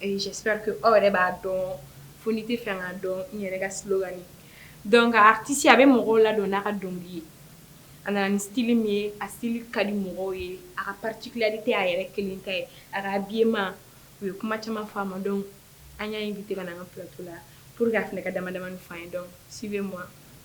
J'espère que aw yɛrɛ b'a dɔn fo n'i t'a fɛ k'a dɔn n yɛrɛ ka slogan ye donc artiste a be mɔgɔw ladɔn n'a ka dɔŋili ye a nana ni style min ye a style ka di mɔgɔw ye a ka particularité a yɛrɛ kelen ta ye a ka habillement u ye kuma caman fɔ a ma donc an y'a invité ka na an ŋa plateau la pour que a fɛnɛ ka dama-damani f'an ye donc suivez moi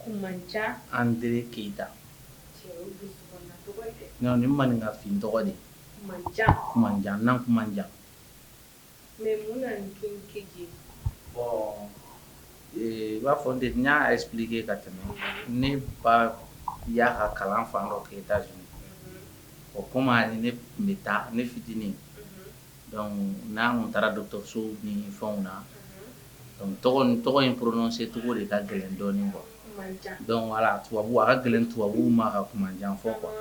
Kumanjan Andire Keyita, cɛw dusukunda tɔgɔ tɛ, non nin maninka fin tɔgɔ de ye, Kumanjan, Kumanjan, Nankumanjan, mais mun na nin King KJ? bon ee, i n'a fɔ n tun y'a expliquer ka tɛmɛ, ne ba y'a ka kalan fan dɔ kɛ Etats Unis, unhun, bon comme a ni ne tun bɛ taa ne fitinin, unhun. n'an taara dɔgɔtɔrɔso ni fɛnw na tɔgɔ in prononcer cogo de ka gɛlɛn dɔɔnin quoi tubabu a ka gɛlɛn tubabu ma ka Kumanjan fɔ quoi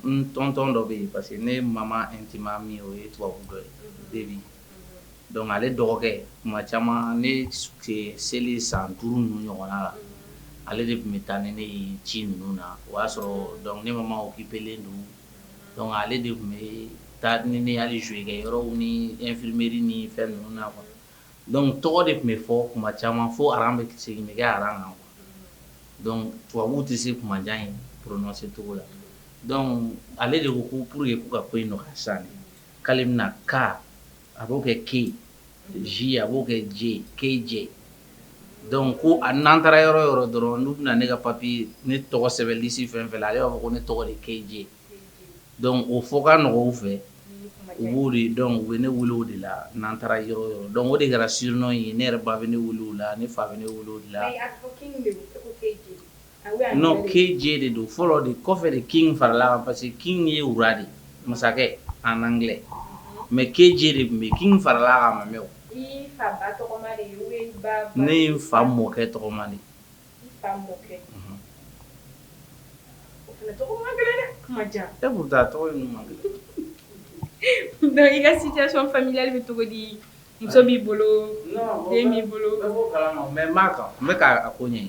n tonton dɔ bɛ yen parce que ne mama intime ami o ye tubabu dɔ de ye donc ale dɔgɔkɛ tuma caman ne selen san duuru ninnu ɲɔgɔn la ale de tun bɛ taa ni ne ye ci ninnu na o y'a sɔrɔ ne mama occupélen don donc ale de tun bɛ taa ni n ye hali jouer kɛ yɔrɔw ni infirmerie ni fɛn ninnu na quoi donc tɔgɔ de tun bɛ fɔ kuma caman fo bɛ segin nɛgɛ aran kan donc tubabuw tɛ se Kumanjan in prononcer cogo la donc ale de ko ko pour que k'u ka ko in nɔgɔya sisan k'ale bɛna ka a b'o kɛ KJ a b'o kɛ KJ donc ko a n'an taara yɔrɔ yɔrɔ dɔrɔn n'u bɛna ne ka papier ne tɔgɔ sɛbɛn liste fɛn fɛn la ale b'a fɔ ko ne tɔgɔ de KJ donc o fɔ ka nɔgɔn u fɛ u b'o de donc u bɛ ne wele o de la n'an taara yɔrɔ yɔrɔ donc o de kɛra surnom ye ne yɛrɛ ba bɛ ne wele o la ne fa bɛ ne wele o la Non KJ de don fɔlɔ de kɔfɛ de King farala parce que King ye roi de masakɛ en anglais mais KJ de tun bɛ King farala a ma mais ne ye n fa mɔkɛ tɔgɔma de i ka situation familiale bɛ cogo di muso b'i bolo b'i bolo mais quand même n bɛ ko ɲɛ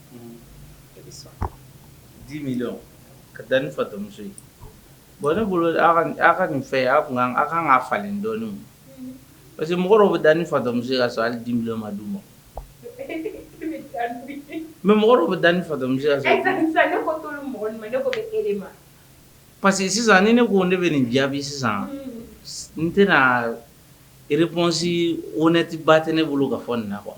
Dix millions ka taa ni fatɔmuso ye bon ne bolo aw ka nin fɛ aw aw kan ka falen dɔɔnin parce que mɔgɔw bɛ taa ni fatɔmuso ye ka sɔrɔ hali dix millions ma di u ma mais mɔgɔ bɛ taa ni fatɔmuso ye parce que sisan ni ne ko ne bɛ nin jaabi sisan n tɛna réponse honnête ba tɛ ne bolo ka fɔ nin na quoi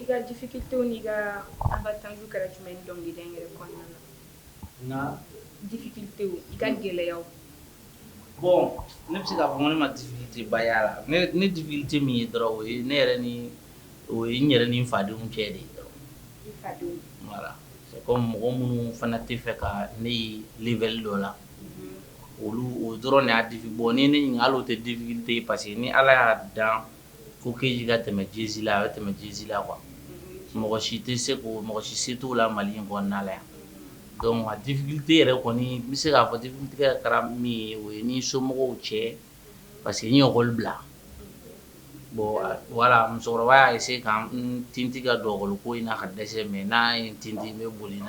I ka difficultéw i ka an ka tanju kɛra jumɛn ye dɔnkili da yɛrɛ kɔnɔna na difficulté i ka gɛlɛya bon ne bɛ se k'a fɔ ne ma difficulté ba ye a la ne difficulté min ye dɔrɔn o ye ne yɛrɛ ni o ye n yɛrɛ ni n fadenw cɛ de voilà c'est comme mɔgɔ minnu fana tɛ fɛ ka ne ye level dɔ la olu o dɔrɔn de y'a difi bon ni ne ɲininkala o tɛ difficulté parce que ni ala y'a dan ko Keji ka tɛmɛ Jesi la a bɛ tɛmɛ Jesi la quoi mɔgɔ si tɛ se ko mɔgɔ si se t'o la mali in kɔnɔna la yan donc difficulté yɛrɛ kɔni n bɛ se k'a fɔ difficulté kɛra min ye o ye ni somɔgɔw cɛ parce que n ye lekɔli bila bon voilà musokɔrɔba y'a se kɛ ka n tintin ka don lekɔli ko in na ka dɛsɛ mais n'a ye n tintin n bɛ boli n'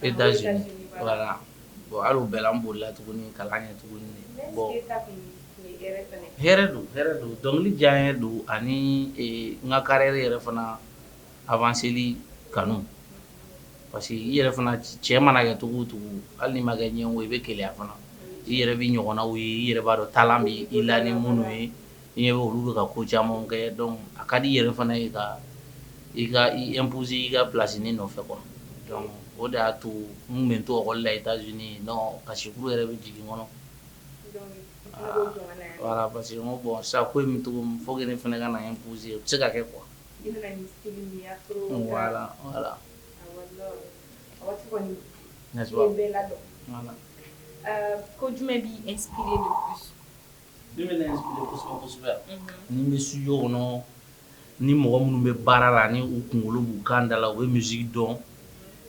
e da voilà bon bɛɛ an boli la tuguni kalan kɛ tuguni bon don don dɔnkili diyanye don ani n ka carrière yɛrɛ fana avancéli kanu parce que i yɛrɛ fana cɛ mana kɛ cogo o cogo hali ma kɛ ɲɛ i bɛ gɛlɛya fana i yɛrɛ bɛ ɲɔgɔnna ye i yɛrɛ b'a dɔn ta bɛ i la ni minnu ye i ɲɛ bɛ olu bɛ ka ko caman kɛ a ka di i yɛrɛ fana ye ka i ka i imposer i ka place ni nɔfɛ kɔ o de y'a to n bɛ tɔgɔ la i taa z kasi yɛrɛ bɛ jigin kɔnɔ voilà parce que bon sa ko min fo fana ka na pzse se ka kɛ kuwa ko jumɛn bɛ e ni n bɛ studio kɔnɔ ni mɔgɔ minnu bɛ baara la ni u kunkolo b'u kan da la u bɛ musique dɔn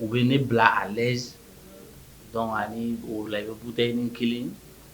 u bɛ ne bila à l'aise donc ani olu bɛ bu ni kelen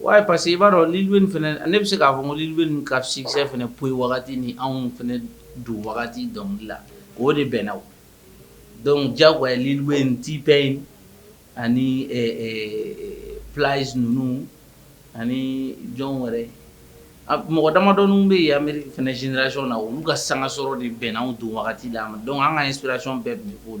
Wa parce que i b'a dɔn ne bɛ se k'a fɔ ko ka succès fana p wagati ni anw fana don wagati dɔnkili la o de bɛnna donc Lil Wayne tun bɛ yen ani pzs ninnu ani jɔn wɛrɛ mɔgɔ damadɔ bɛ yan Amérique f jrasi na olu ka sanka sɔrɔ de bɛnna don wagati la donc an ka génération bɛɛ o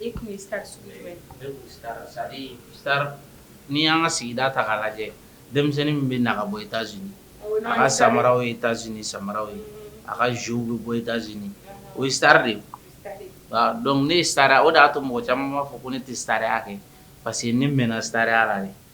E tun ye star sugu jumɛn ye? Ne tun ye star c'est à dire star n'i y'an ka sigida ta k'a lajɛ denmisɛnnin min bɛ na ka bɔ Etats Unis a ka samaraw ye Etats Unis samaraw ye, a ka jeux bɛ bɔ Etats Unis o ye star de ye, donc ne ye star o de y'a to mɔgɔ caman b'a fɔ ko ne tɛ staraya kɛ parce que ne mɛnna staraya la de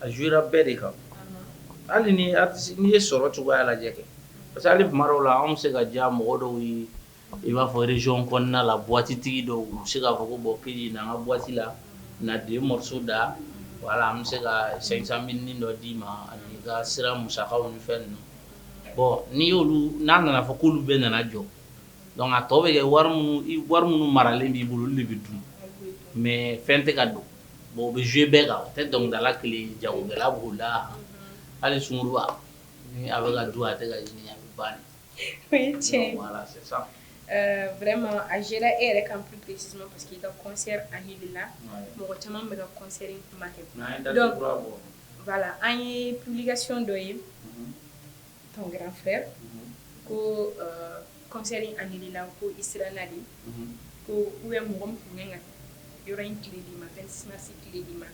a joué ra bɛɛ de kan hali ni artiste n'i ye sɔrɔ cogoya lajɛ kɛ parce que hali tuma dɔw la anw bɛ se ka diya mɔgɔ dɔw ye i b'a fɔ région kɔnɔna la boite tigi dɔw u bɛ se k'a fɔ ko bon KJ na n ka boite la na 2 morceaux da voilà an bɛ se ka 500 mille nin dɔ d'i ma ani i ka sira musakaw ni fɛn ninnu bon n'i y'olu n'a nana fɔ k'olu bɛɛ nana jɔ donc a tɔ bɛ kɛ wari minnu i wari minnu maralen b'i bolo olu de bɛ dun mais fɛn tɛ ka don Bon bɛ joué bɛɛ kan tɛ dɔnkilidala kelen jagokɛla b'o la hali sungurunba bɛ ka dun a tɛ ka ɲini a bɛ ba sisan vraiment a joué e yɛrɛ ka psi parce que i ka concert a ɲɛ la mɔgɔ caman bɛ ka concert kuma kɛ la an ye publication dɔ ye Ton grand frère ko concert annuléla ko i sera naani ko u ye mɔgɔ tun kan yɔrɔ in tile di ma sinsi tile di ma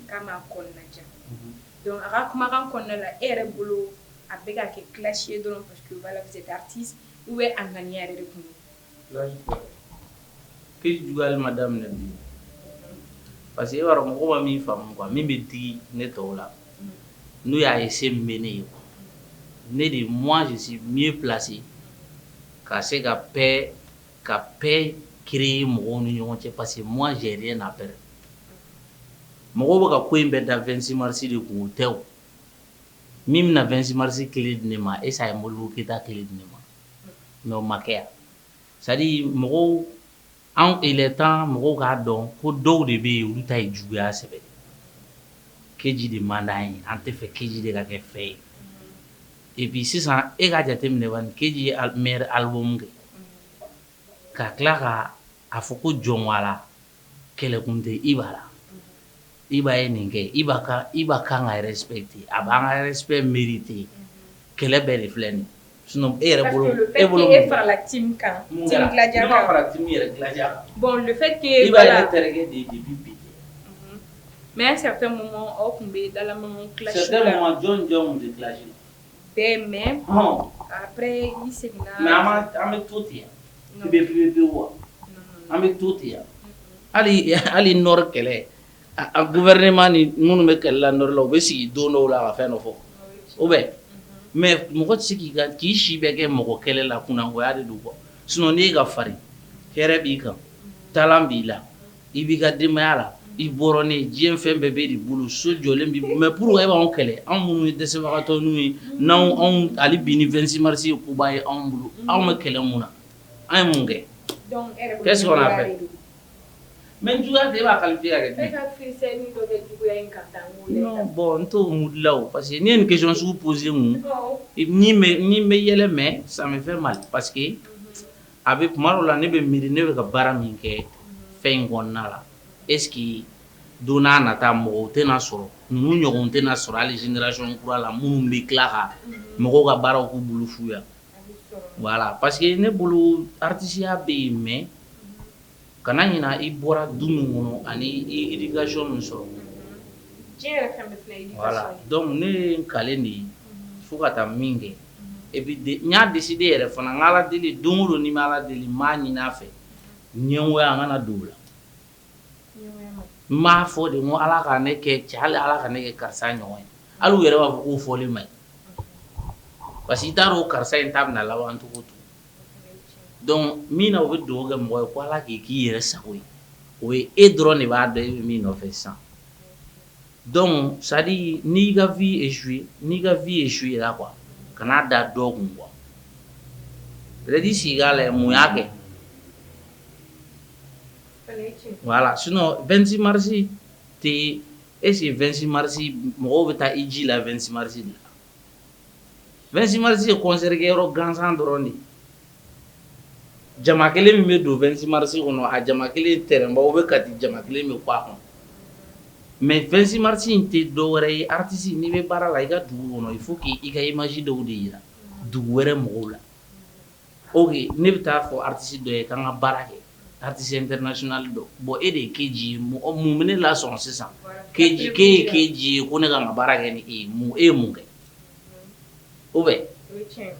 k'a ma kɔnɔna jan donc a ka kumakan kɔnɔna la e yɛrɛ bolo a bɛ ka kɛ clash ye dɔrɔn parce que voilà artiste u bɛ a ŋaniya yɛrɛ de kun KJ juguya ma daminɛ bi parce que e b'a mɔgɔ ma min faamu quoi min bɛ digi ne tɔw la n'o y'a ye se bɛ ne ye ne de mɔnsisi mi ye plasi ka se ka ka paix kɛ mɔgɔw ni ɲɔgɔn cɛ parce que mɔnzɛn n'a pɛ mɔgɔ bɛ ka ko in bɛ da 2si marisi de kun tɛ min bɛna na 2si marisi kelen di ne ma esa ye Mori Keyita kelen di ne ma N'o ma kɛ c'est-à-dire mɔgɔw anw il est temps mɔgɔw k'a dɔn ko dɔw de bɛ yen olu ta ye juguya sɛbɛ de KJ de man di an ye an tɛ fɛ KJ de ka kɛ fɛn ye et puis sisan e k'a jate minɛ KJ ye meilleur album kɛ ka tila ka A fɔ ko jɔn wala kɛlɛkun tɛ i b'a la i b'a ye nin kɛ i i b'a kan ka i respecté a b'an ka respect mérité kɛlɛ bɛɛ de filɛ nin sinon e yɛrɛ bolo e bolo e farala kan bi mɛ sa tun bɛ dala jɔn jɔn de bɛɛ mɛ an bɛ to ten yan bɛ bɛ wa an bɛ to ten yan hali hali Nord kɛlɛ gouvernement ni minnu bɛ kɛlɛ la Nord la u bɛ sigi don dɔw la ka fɛn dɔ fɔ o bɛ mais mɔgɔ tɛ sigi ka k'i si bɛɛ kɛ mɔgɔ kɛlɛ la kunnagoya de don bon sinon i ka farin hɛrɛ b'i kan talent b'i la I b'i ka denbayaya la i bɔra ni diɲɛ fɛn bɛɛ b'e de bolo so jɔlen b'i bolo mais pour e b'an kɛlɛ anw minnu ye dɛsɛbagatɔw ye n' anw ale bin ni vingt-six mars ye koba ye anw bolo aw b'an kɛlɛ mun na an ye mun kɛ fɛ mɛ juguya de b'a kali bɔn n' mudila parce que ne ni question posé bɛ yɛlɛmɛ sanfɛ fɛn ma parce que a bɛ kuma la ne bɛ miiri ne bɛ ka baara min kɛ fɛn in kɔnɔna la est-ce que don nata mɔgɔw tɛna sɔrɔ ninnu ɲɔgɔn tɛna sɔrɔ hali génération kura la minnu bɛ tila ka mɔgɔw ka baaraw k'u bolo fu ye voilà parce que ne bolo atisiya bɛ yen mais Kana ɲina i bɔra du min kɔnɔ ani i ye min sɔrɔ donc ne ye kale de ye fo ka taa min kɛ e n y'a dese de yɛrɛ fana n ala deli don o don ni ala deli maa ɲin a fɛ ɲɛgo an kana dugu la n ma fɔ de ko ala ka ne kɛ cɛ hali ala ka ne kɛ karisa ɲɔgɔn ye ala yɛrɛ b'a fɔ k'o fɔlen ma ɲi parce que i t'a dɔn karisa in ta bɛna laban cogo to min na u bɛ dugawu kɛ mɔgɔ ye ko ala k'i k'i yɛrɛ sago ye o ye e dɔrɔn de b'a dɔn e bɛ min nɔfɛ sans ça n'i ka vœu ye su ye n'i ka vœu ye su ye a la quoi kana a da dɔw kun quoi i sigi k'a lajɛ mun y'a kɛ voilà sinon vingt-six mars tɛ est-ce que vingt-six mars mɔgɔw bɛ taa i ji la vingt-six mars de la Vingt-six mars ye concert kɛ yɔrɔ gansan dɔrɔn de jama kelen min bɛ don vingt-six mars kɔnɔ a jama kelen tɛrɛnbaw u bɛ ka di jama kelen min a kɔnɔ mais vingt-six mars in tɛ dɔ wɛrɛ ye artiste n'i bɛ baara la i ka dugu kɔnɔ il faut k' i ka image dɔw de jira dugu wɛrɛ mɔgɔw la Ok ne bɛ taa fɔ artiste dɔ ye k'an ka baara kɛ artiste international don bon e de ye k'i ji ye mɔgɔ mun minɛ la sɔn sisan k'e ye k'i ji ye ko ne ka ka baara kɛ ni e mun e mun kɛ o bɛ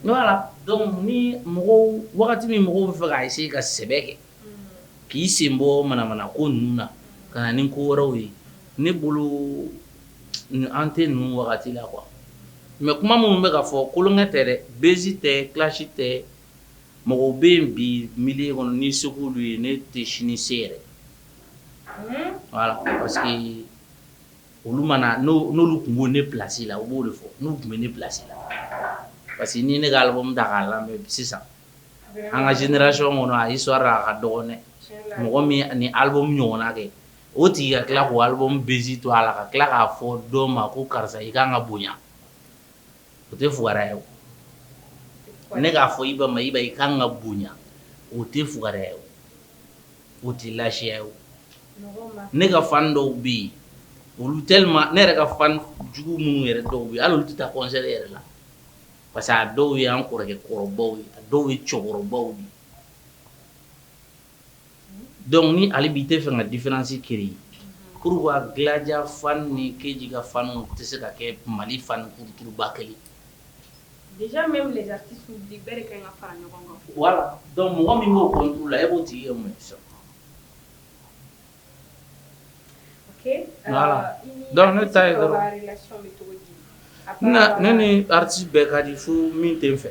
voilà donc ni mɔgɔw wagati min mɔgɔw bɛ fɛ k' i ka sɛbɛ kɛ k'i sen bɔ manamana ko ninnu na ka na ni ko wɛrɛw ye ne bolo an tɛ ninnu wagati la quoi mais kuma minnu bɛ ka fɔ kolonkɛ tɛ dɛ bɛnsi tɛ clash tɛ mɔgɔ bɛ yen bi min kɔnɔ ni segu ye ne tɛ sini se yɛrɛ parce que olu mana n'olu tun bɛ ne place la u b'o de fɔ n'u tun bɛ ne place la parce que ni ne k'ale bɔ da k'a la sisan an ka génération kɔnɔ a y'i sɔrɔ a ka dɔgɔn dɛ mɔgɔ min ni album ɲɔgɔn kɛ o tigi ka tila ko album bɛnsi to a la ka tila k'a fɔ dɔ ma ko karisa i ka kan ka bonya o tɛ fugɛ ye ne k'a fɔ Iba ma i i ka kan ka bonya o tɛ fugɛ ye o tɛ layiya ye ne ka fan dɔw bɛ yen olu tɛ ne yɛrɛ ka fan jugu minnu yɛrɛ dɔw ye hali tɛ taa concert yɛrɛ la parce que a dɔw ye an kɔrɔkɛ kɔrɔbaw ye a dɔw ye cɛkɔrɔbaw ye donc ni hali bi i tɛ fɛ ka différence créer pourquoi Gladia fan ni Kedji ka fan tɛ se ka kɛ Mali fan culture ba kelen déjà même les artistes olu bɛɛ de ka kan ka fara ɲɔgɔn kan, voila, donc mɔgɔ min b'o contre la e b'o tigi kɛ mun ye sisan Donc ne taa ne ni artiste bɛɛ ka di fo min tɛ n fɛ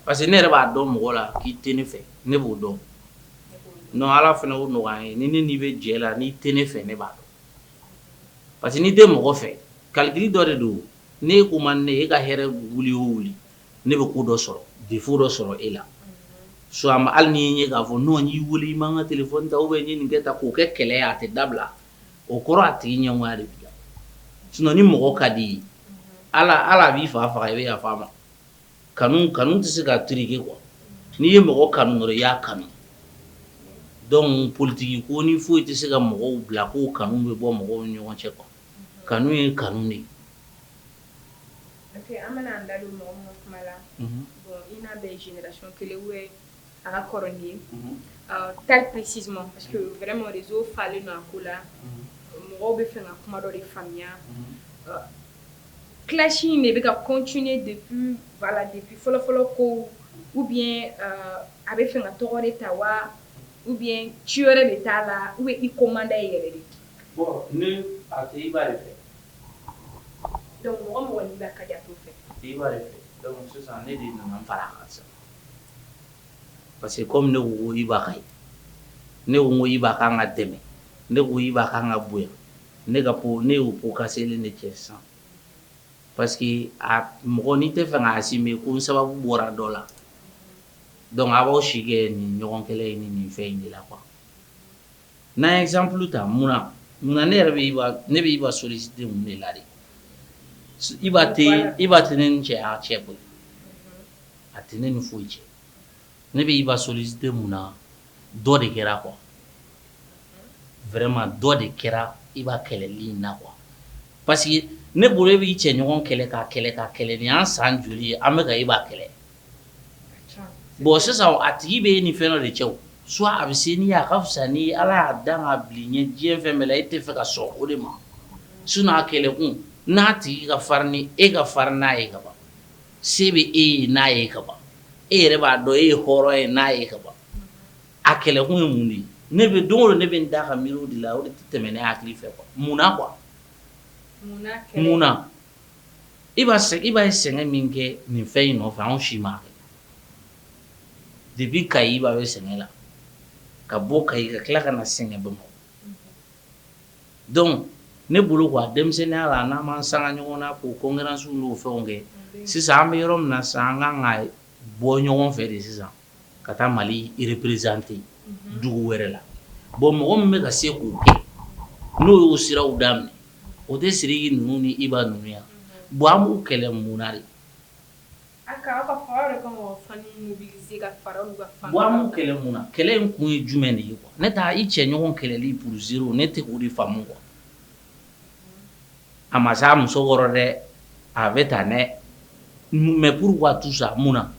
parce que ne yɛrɛ b'a dɔn mɔgɔ la k'i tɛ ne fɛ ne b'o dɔn n ala fana o ɲɔgɔn ye ni ne n'i bɛ jɛ la n'i tɛ ne fɛ ne b'a dɔn parce que n'i tɛ mɔgɔ fɛ calcul dɔ de don ne ko ma ne e ka hɛrɛ wuli o wuli ne bɛ ko dɔ sɔrɔ défaut dɔ sɔrɔ e la su ma hali n'i ye k'a fɔ n'o y'i weele i man kan ka t fɔ ta bɛ ɲini nin kɛ ta k'o kɛ kɛlɛ a tɛ dabila o kɔrɔ a tigi ɲɛgoya de b'i la sun ni mɔgɔ ka di ye hali hali a b'i fa faga i bɛ yafa a ma kanu kanu tɛ se ka tigɛ quoi n'i ye mɔgɔ kanu dɔrɔn i y'a kanu donc politiki ko ni foyi tɛ se ka mɔgɔw bila ko kanu bɛ bɔ mɔgɔw ɲɔgɔn cɛ kɔ kanu ye kanu de ye Ok an bɛna an da don mɔgɔ minnu ka kuma la, unhun, bon i n'a bɛɛ ye génération kelen ou bien a ka kɔrɔ n'i ye, unhun, ɔ très précisément parce que vraiment réseau falen don a ko la, unhun, mɔgɔw bɛ fɛ ka kuma dɔ de faamuya, unhun, ɔ clash in de bɛ ka continuer depuis voila depuis fɔlɔ fɔlɔ kow ou bien euh a bɛ fɛ ka tɔgɔ de ta wa ou bien ci wɛrɛ de t'a la ou bien i ko man d'a ye yɛrɛ de, bon ne a tɛ i b'a ye dɛ Parce que comme ne ko Iba ka ye ne ko Iba ka kan ka dɛmɛ ne ko Iba ka kan ka bonya ne y'o ko ka selen ne cɛ sisan parce que a mɔgɔ nin tɛ fɛ ka assumer ko n sababu bɔra dɔ la donc a b'aw si kɛ nin ɲɔgɔn kelen ye ni nin fɛn in de la quoi N na exemple ta mun munna ne yɛrɛ ne bɛ Iba solliciter mun de la Iba Iba tɛ ne ni cɛ cɛ bɔ a tɛ ne ni foyi cɛ ne bɛ Iba solliciter mun na dɔ de kɛra quoi vraiment dɔ de kɛra Iba kɛlɛli na quoi parce que ne bolo e b'i cɛ ɲɔgɔn kɛlɛ ka kɛlɛ ka kɛlɛ ni an san joli ye an bɛ ka Iba kɛlɛ Bon sisan a tigi bɛ e ni fɛn de cɛ soit a bɛ se n'i a ka fisa n ni ala y'a dan ka bila i ɲɛ diɲɛ fɛn bɛɛ la e tɛ fɛ ka sɔn o de ma sinon a kɛlɛkun n'a tigi ka farin ni e ka farin n'a ye ka ban se bɛ e ye n'a ye ka ban e yɛrɛ b'a dɔn e ye hɔrɔn ye n'a ye ka ban a kɛlɛkun ye mun de ye ne bɛ don ne bɛ da ka mi de la o tɛmɛɛna' hakili fɛ munna quoi munna Iba Iba ye sɛgɛn min kɛ nin fɛn in nɔfɛ anw si m'a kɛ depuis ka Iba ye sɛgɛn la ka bɔ ka i ka tila ka na sɛgɛn bɔ donc ne bolo ko an denmisɛnninya la n'an ma san ɲɔgɔn na ka concurrence fɛnw kɛ sisan an bɛ yɔrɔ min na sisan an ka ka bɔ ɲɔgɔn fɛ de sisan ka taa mali représenter dugu wɛrɛ la bon mɔgɔ min bɛ ka se k'o kɛ n'u y'o siraw daminɛ o tɛ Sidiki ninnu ni Iba ninnu ye bon an b'u kɛlɛ mun de bon an b'u kɛlɛ munna kɛlɛ in kun ye jumɛn de ye ne taa i cɛ ɲɔgɔn kɛlɛli pour zéro ne tɛ k'o de faamu quoi A ma se a muso kɔrɔ dɛ a bɛ taa dɛ mais pourquoi tout ça mun na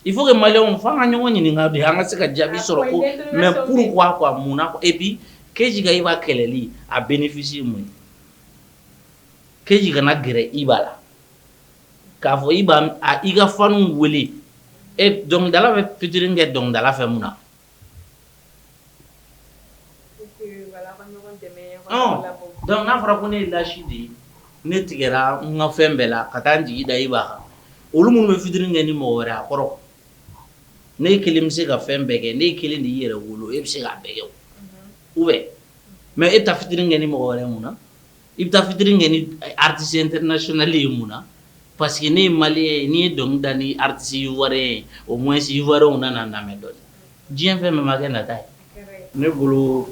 il faut que mali fanw ka ɲɔgɔn ɲini bi an ka se ka jaabi sɔrɔ ko mais pourquoi munna et puis KJ ka Iba kɛlɛli a bénéfice mun ye KJ kana gɛrɛ Iba la k'a fɔ i b'i ka fanw weele dɔnkilidala bɛ featuring kɛ dɔnkilidala fɛ mun na n'a fɔra ko ne ye l'as de ye ne tigɛra n ka fɛn bɛɛ la ka taa n jigi da Iba la olu minnu bɛ featuring kɛ ni mɔgɔ wɛrɛ a kɔrɔ n'e kelen bɛ se ka fɛn bɛɛ kɛ n'e kelen de ye yɛrɛwolo ye e bɛ se k'a bɛɛ kɛ ou bien mais e taa featuring kɛ ni mɔgɔ wɛrɛ mun na I bɛ taa featuring kɛ ni artiste international ye mun na parce que ne ye malien ye n'i ye dɔnkili da ni artiste ivoirien ye au moins ivoirienw nana na lamɛn donc diɲɛ fɛn min ma kɛ nata ye ne bolo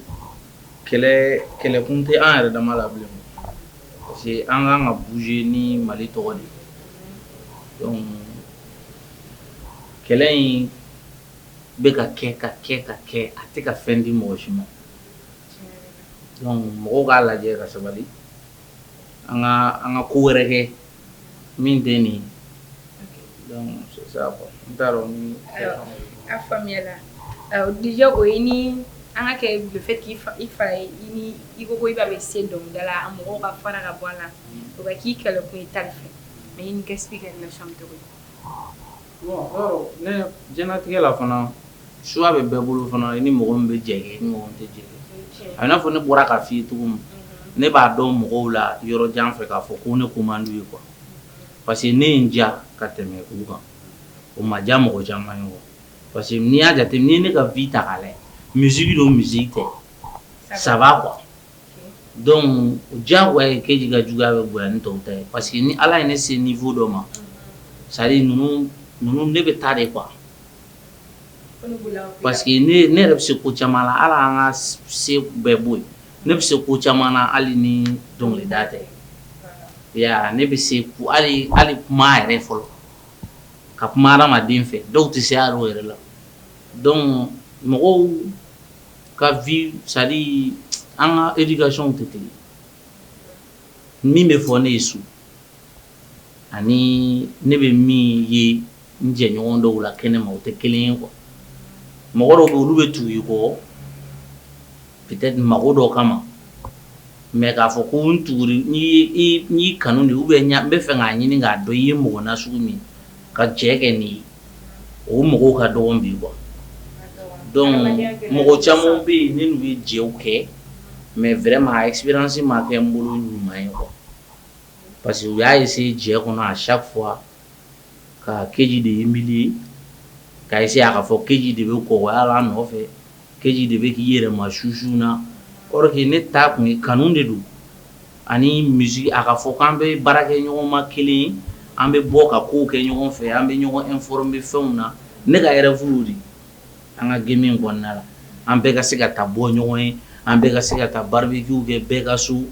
kɛlɛ kɛlɛkun tɛ an yɛrɛ dama la bilen parce que an ka kan ka bouger ni mali tɔgɔ de ye kɛlɛ in bɛ ka kɛ ka kɛ ka kɛ a tɛ ka fɛn di mɔgɔ si ma Mɔgɔw k'a lajɛ ka sabali an ka ko wɛrɛ kɛ min tɛ nin a faamuya déjà o ye ni an ka le fait k' i fa ye i ko Iba bɛ se dɔnkilida la mɔgɔw ka fara ka bɔ a la o k'i kɛlɛ ko i t'a fɛ mais kɛ sigi kɛ na cogo Ne jtigɛ la fana choix bɛ bɛɛ bolo fana i ni mɔgɔ bɛ jɛ ɲɔgɔn tɛ jɛ i n'a fɔ ne bɔra ka fi tugun ma ne b'a dɔn mɔgɔw la yɔrɔ jan fɛ k'a fɔ ko ne ko man di u ye quoi parce que ne in ja ka tɛmɛ u kan o ma diya mɔgɔ caman ye quoi parce que n'i y'a jate ni ne ka vie ta' la musique don musique kɔ saba quoi Donc diyagoya Keji ka juguya bɛ bonya ni tɔw ta ye parce que ni ala ye ne se niveau dɔ ma c'est à dire ninnu ne bɛ taa de quoi parce que ne yɛrɛ bɛ se ko caman na ala ka se bɛ bɔ yen ne bɛ se ko caman na hali ni dɔnkili da tɛ ne bɛ se hali kuma yɛrɛ fɔli ka kuma hadamaden fɛ dɔw tɛ se yɛrɛ la mɔgɔw ka vie c'est à dire an ka éducation tɛ kelen ye. Min bɛ fɔ ne ye so ani ne bɛ min ye n jɛɲɔgɔn dɔw la kɛnɛma o tɛ kelen ye quoi. Mɔgɔ dɔw bɛ yen olu bɛ tugu i kɔ peut être mago dɔ kama mais k'a fɔ ko n tugu l'i, n y'i kanu de ou bien n bɛ fɛ k'a ɲini k'a dɔn i ye mɔgɔ nasugu min ye ka jɛ kɛ n'i ye. o mɔgɔw ka dɔgɔ bi quoi donc mɔgɔ caman bɛ yen ne n'u ye jɛw kɛ mais vraiment a expérience ma kɛ n bolo ɲuman ye quoi parce que u y'a essayer jɛ kɔnɔ à chaque fois ka keji de humilier ka essayer k'a fɔ keji de bɛ kɔgɔya la an nɔfɛ Keji de bɛ k'i yɛrɛ ma susu na or que ne ta tun ye kanu de don ani misi a ka fɔ k'an bɛ baara kɛ ɲɔgɔn ma kelen an bɛ bɔ ka ko kɛ ɲɔgɔn fɛ an bɛ ɲɔgɔn informer fɛnw na ne ka yɛrɛ furu de an ka game kɔnɔnada la an bɛɛ ka se ka taa bɔ ɲɔgɔn ye an bɛɛ ka se ka taa barbecue kɛ bɛɛ ka so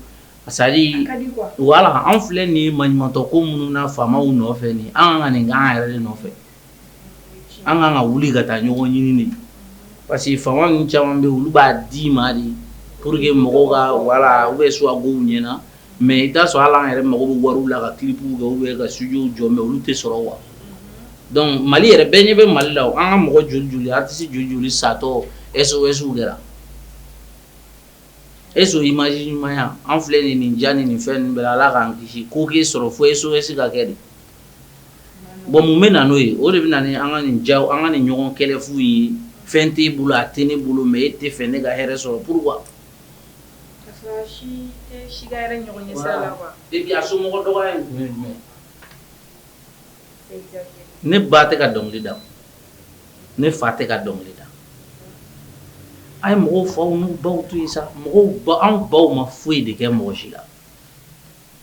sali wala an filɛ nin maɲumatɔ ko minnu na faamaw nɔfɛ nin an ka nin an yɛrɛ de nɔfɛ An ka ka wuli ka taa ɲɔgɔn ɲini parce que fan caman bɛ olu b'a dɛmɛ de pour que mɔgɔw ka wala u bɛ subventionner mais i t'a sɔrɔ ala yɛrɛ mɔgɔw wari la ka kibugu kɛ u bɛ ka so jɔ mais olu tɛ sɔrɔ wa donc mali yɛrɛ bɛɛ ɲɛ bɛ mali la an ka mɔgɔ joli joli artiste joli joli satɔ SOSw kɛra eso i ma ɲumanya an filɛ nin nin ja ni nin fɛn bɛ ala k'an kisi k' k'i sɔrɔ fo SOS ka kɛ de Bon mun bɛ na n'o ye o de bɛ na an ka nin ja an ka nin ɲɔgɔn kɛlɛ fu ye fɛn t'i bolo a tɛ ne bolo mais e t'a fɛ ne ka hɛrɛ sɔrɔ pourquoi ne ba tɛ ka dɔnkili da ne fa tɛ ka dɔnkili da a ye mɔgɔw faw ni baw to sa mɔgɔw anw baw ma foyi de kɛ mɔgɔ si la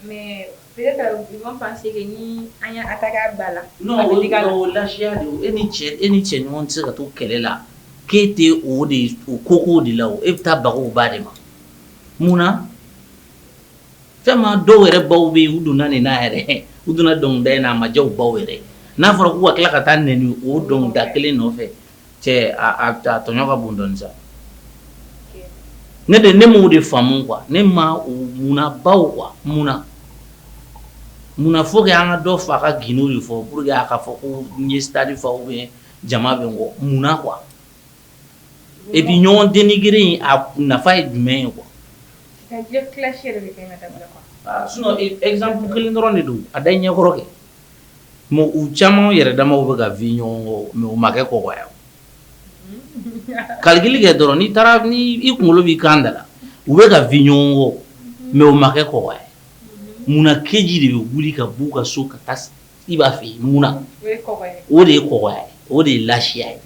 Mais peut être ils vont penser que ni an ye attaque ba la, non o ye lagoya de ye, e ni cɛ e n'i cɛɲɔgɔn tɛ se ka to kɛlɛ la k'e tɛ o de o koko de la o, e bɛ taa baga o ba de ma munna tellement dɔw yɛrɛ baw bɛ yen u donna nin na yɛrɛ, u donna dɔnkilida in na a ma diya u baw yɛrɛ ye, n'a fɔra k'u ka tila ka taa nɛni o dɔnkilida kelen nɔfɛ cɛ tɔɲɔ ka bon dɔɔnin sa ne de ne ma ko de faamu quoi ne ma munna baw quoi munna munna fo an ka dɔ fa ka ginw de fɔ pour qu'a ka fɔ k'u ye stade fa bɛ jama bɛ n kɔ munna quoi e b'i ɲɔgɔn dénigrer a nafa ye jumɛn ye quoi sinon exemple kelen dɔrɔn de don a da ɲɛkɔrɔ kɛ Bon u caman yɛrɛ damaw bɛ ka vi ɲɔgɔn mais u ma kɔ ka aigri kɛ dɔrɔn n'i taara i kunkolo b'i kan da la u bɛ ka vi ɲɔgɔn kɔ mais u makɛ kɔ munna Kedji de bɛ wuli ka b'u ka so ka taa i b'a fɛ mun o de ye kɔ o de ye laya ye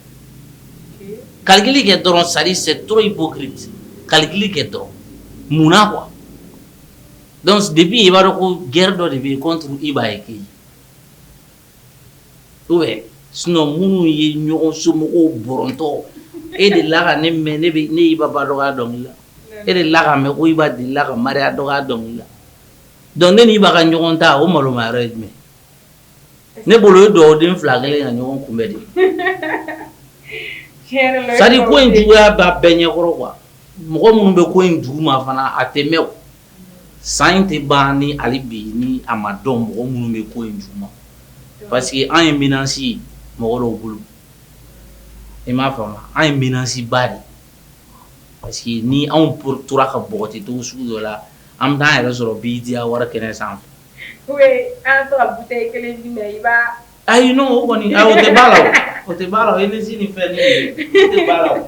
aigri kɛ dɔrɔn ça c'est trop hypocrite aigri kɛ dɔrɔn mun Donc depuis i b'a dɔn ko guerre dɔ de bɛ yen contre i b'a ye kɛ ou bien sinon minnu ye ɲɔgɔn somɔgɔw bɔrɔntɔ e delila ka ne mɛn ne bɛ ne Iba ba dɔgɔya dɔnkili la e delila k'a mɛn ko Iba delila ka Maria dɔgɔya dɔnkili la donc ne ni Iba ka ɲɔgɔn ta o maloman yɔrɔ ye jumɛn ye ne bolo o ye dugawuden fila kɛlen ye ka ɲɔgɔn kunbɛn de ye tiɲɛ yɛrɛ la o ye c'est à dire ko in juguya b'a bɛɛ ɲɛkɔrɔ quoi mɔgɔ minnu bɛ ko in duguma fana a tɛ mɛn o. san in tɛ ban ni ali bi ni a ma dɔn mɔgɔ minnu bɛ ko in duguma parce que an ye menace mɔgɔ dɔw bolo i m'a faamu an ye menaceba de parce que ni anw tora ka npogoti to sugu dɔ la an b'an yɛrɛ sɔrɔ BET Award kɛnɛ sanfɛ Ayi n'o o kɔni ayi o tɛ ban a la o o tɛ ban a la o énergie ni fɛn ni o tɛ ban a la o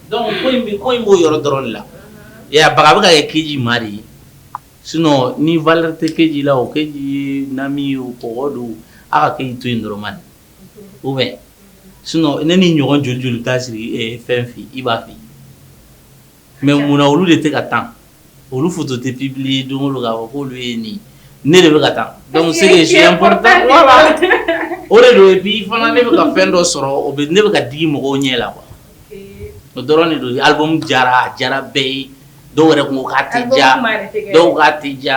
donc ko in bɛ ko in b'o yɔrɔ dɔrɔn de la i y'a ye a baga a bɛ ka kɛ Kedji ma de ye sinon ni valeur tɛ Kedji la o Kedji ye nami ye o kɔgɔ do o a ka Kedji to yen dɔrɔn bani ou bien sinon ne n'i ɲɔgɔn joli joli bɛ taa siri ɛ fɛn fɛ yen i b'a fɛ yen. mais munna olu de tɛ ka tan olu photo tɛ publier don la olu ye nin ne de bɛ ka taa donc c'est o de don bi fana ne bɛ ka fɛn dɔ sɔrɔ o ne bɛ ka digi mɔgɔw ɲɛ la wa o dɔrɔn de don alimu jara jara bɛɛ ye dɔw yɛrɛ tun ka tɛ ja dɔw ka tɛ ja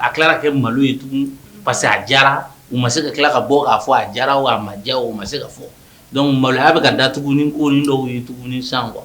a tila kɛ malo ye tugun parce que a jara u ma se ka tila ka bɔ k'a fɔ a jara a ma diya o ma se ka fɔ donc maloya bɛ ka da tugun ni ko dɔw ye tugun san quoi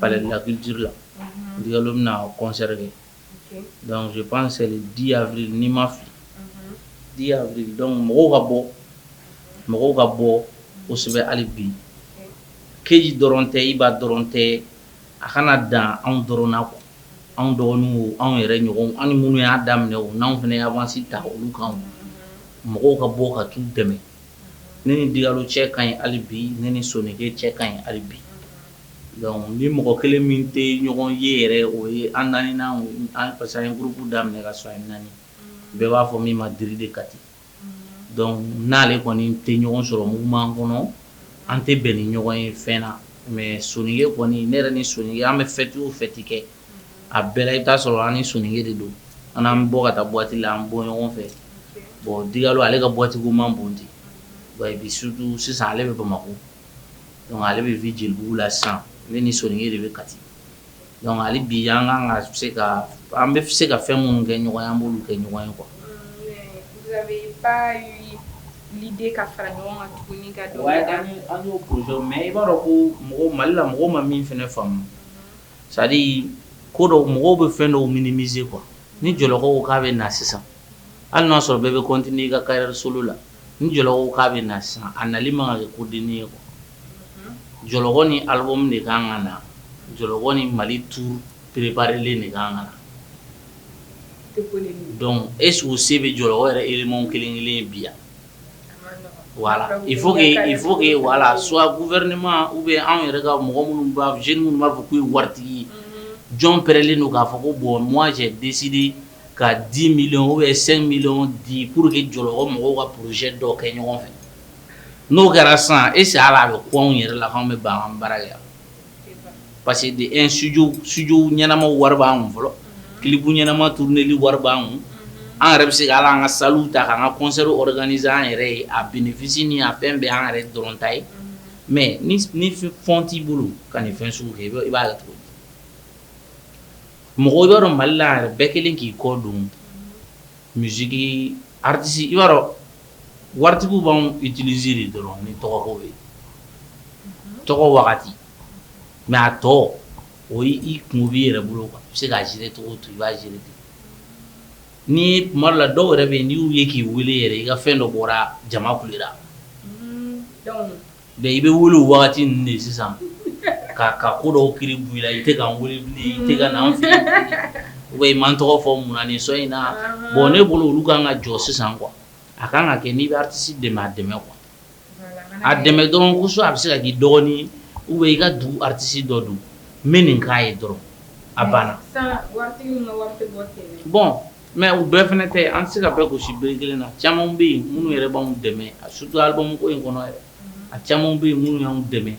palais de la culture la unhun Digalo bɛna concert kɛ ok donc je pense c'est le 10 avril ni n ma fili unhun 10 avril donc mɔgɔw ka bɔ mɔgɔw ka bɔ kosɛbɛ hali bi ok KJ dɔrɔn tɛ Iba dɔrɔn tɛ a kana dan anw dɔrɔn na quoi unhun anw dɔgɔninw o anw yɛrɛ ɲɔgɔnw an ni minnu y'a daminɛ o n'anw fana ye avance ta olu kan o unhun mɔgɔw ka bɔ ka t'u dɛmɛ unhun ne ni Digalo cɛ kaɲi hali bi ne ni Soneke cɛ kaɲi hali bi unhun Donc ni mɔgɔ kelen min tɛ ɲɔgɔn ye yɛrɛ o ye an naani an fasa ye groupe daminɛ ka sɔn naani bɛɛ b'a fɔ min ma di de ka di donc n'ale kɔni tɛ ɲɔgɔn sɔrɔ mugu'an kɔnɔ an tɛ bɛn ni ɲɔgɔn ye fɛn na mais Soneke kɔni ne yɛrɛ ni son an bɛ fɛti o fɛti kɛ a bɛɛ i b'a sɔrɔ an ni Soneke de don an bɛ bɔ ka taa boîte la an bɔ ɲɔgɔn fɛ bon Digalo ale ka boîte ko man bon ten wa i bɛ surtout sisan ale bɛ Bamakɔ Donc ale bɛ vi Jelibugu la sisan ne ni Soneke de bɛ Kati donc hali bi an kan ka se ka an bɛ se ka fɛn minnu kɛ ɲɔgɔn an b'olu kɛ ɲɔgɔn ye quoi mais i b'a dɔn ko mɔgɔ Mali la mɔgɔ ma min fana faamu c'est-à-dire ko dɔ mɔgɔw bɛ fɛn dɔw minimiser quoi ni Jɔlɔkɔ k'a bɛ na sisan hali n'a y'a sɔrɔ bɛɛ bɛ continuer i ka carrière solo la Ni jɔ k'a bɛ na sisan a nali ma kɛ ko den ye jɔ ni alimu de kan ka na jɔ ni mali tu pereplen de kan kan dɔnku e sugu se bɛ jɔ o yɛrɛ erw kelen kelen bi yan wala i fo i fo wala subu wɛrɛma u bɛ anw yɛrɛ ka mɔgɔ minnu z minnu b'a fɔ k'u ye waritigi jɔn pɛlen don k'a fɔ ko bɔn mɔn cɛ disidi ka 10 millions 5 millions di pour que Jɔlɔkɔ mɔgɔw ka projet dɔ kɛ ɲɔgɔn fɛ n'o kɛra san e se ala a bɛ ko anw yɛrɛ la anw bɛ ban an bara yan parce que de e su studio ɲɛnama wari b'an fɛ clip ɲɛnama turuneli wari b'an yɛrɛ bɛ se ala an ka salle ta an ka concert wɛrɛdani an yɛrɛ ye a bénéfice ni a fɛn bɛ an yɛrɛ dɔrɔn ta ye mais ni fɛn fɛn t'i bolo ka nin fɛn sugu kɛ i b'a cogo Mɔgɔ i b'a dɔn Mali la yɛrɛ bɛɛ kelen k'i kɔ don musiki artiste i b'a dɔn waritigiw b'an utiliser de dɔrɔn ni tɔgɔ ye tɔgɔ wagati mais a tɔ o i kun b'i yɛrɛ bolo ka se k'a gérer tɔgɔ to i b'a gérer ni tuma la dɔw yɛrɛ bɛ n'u ye k'i weele yɛrɛ i ka fɛn dɔ bɔra jama kulu la Mais i bɛ wele waati ninnu de sisan ka ka ko dɔw ki b'i la i tɛ ka wuli i ka na fɛ o i ma n tɔgɔ fɔ mun na nin son in na bon ne bolo olu ka kan ka jɔ sisan quoi a ka kan ka kɛ n'i b'artiste dɛmɛ a dɛmɛ quoi a dɛmɛ dɔrɔnso a bɛ se ka k'i dɔgɔnin u bɛ i ka dugu artiste dɔ don n bɛ nin k'a ye dɔrɔn a banna bon Mais u bɛɛ fana tɛ an tɛ se ka bɛɛ gosi bere kelen na caman bɛ yen minnu yɛrɛ b'anw dɛmɛ a surtout album in kɔnɔ yɛrɛ a caman bɛ yen minnu y'an dɛmɛ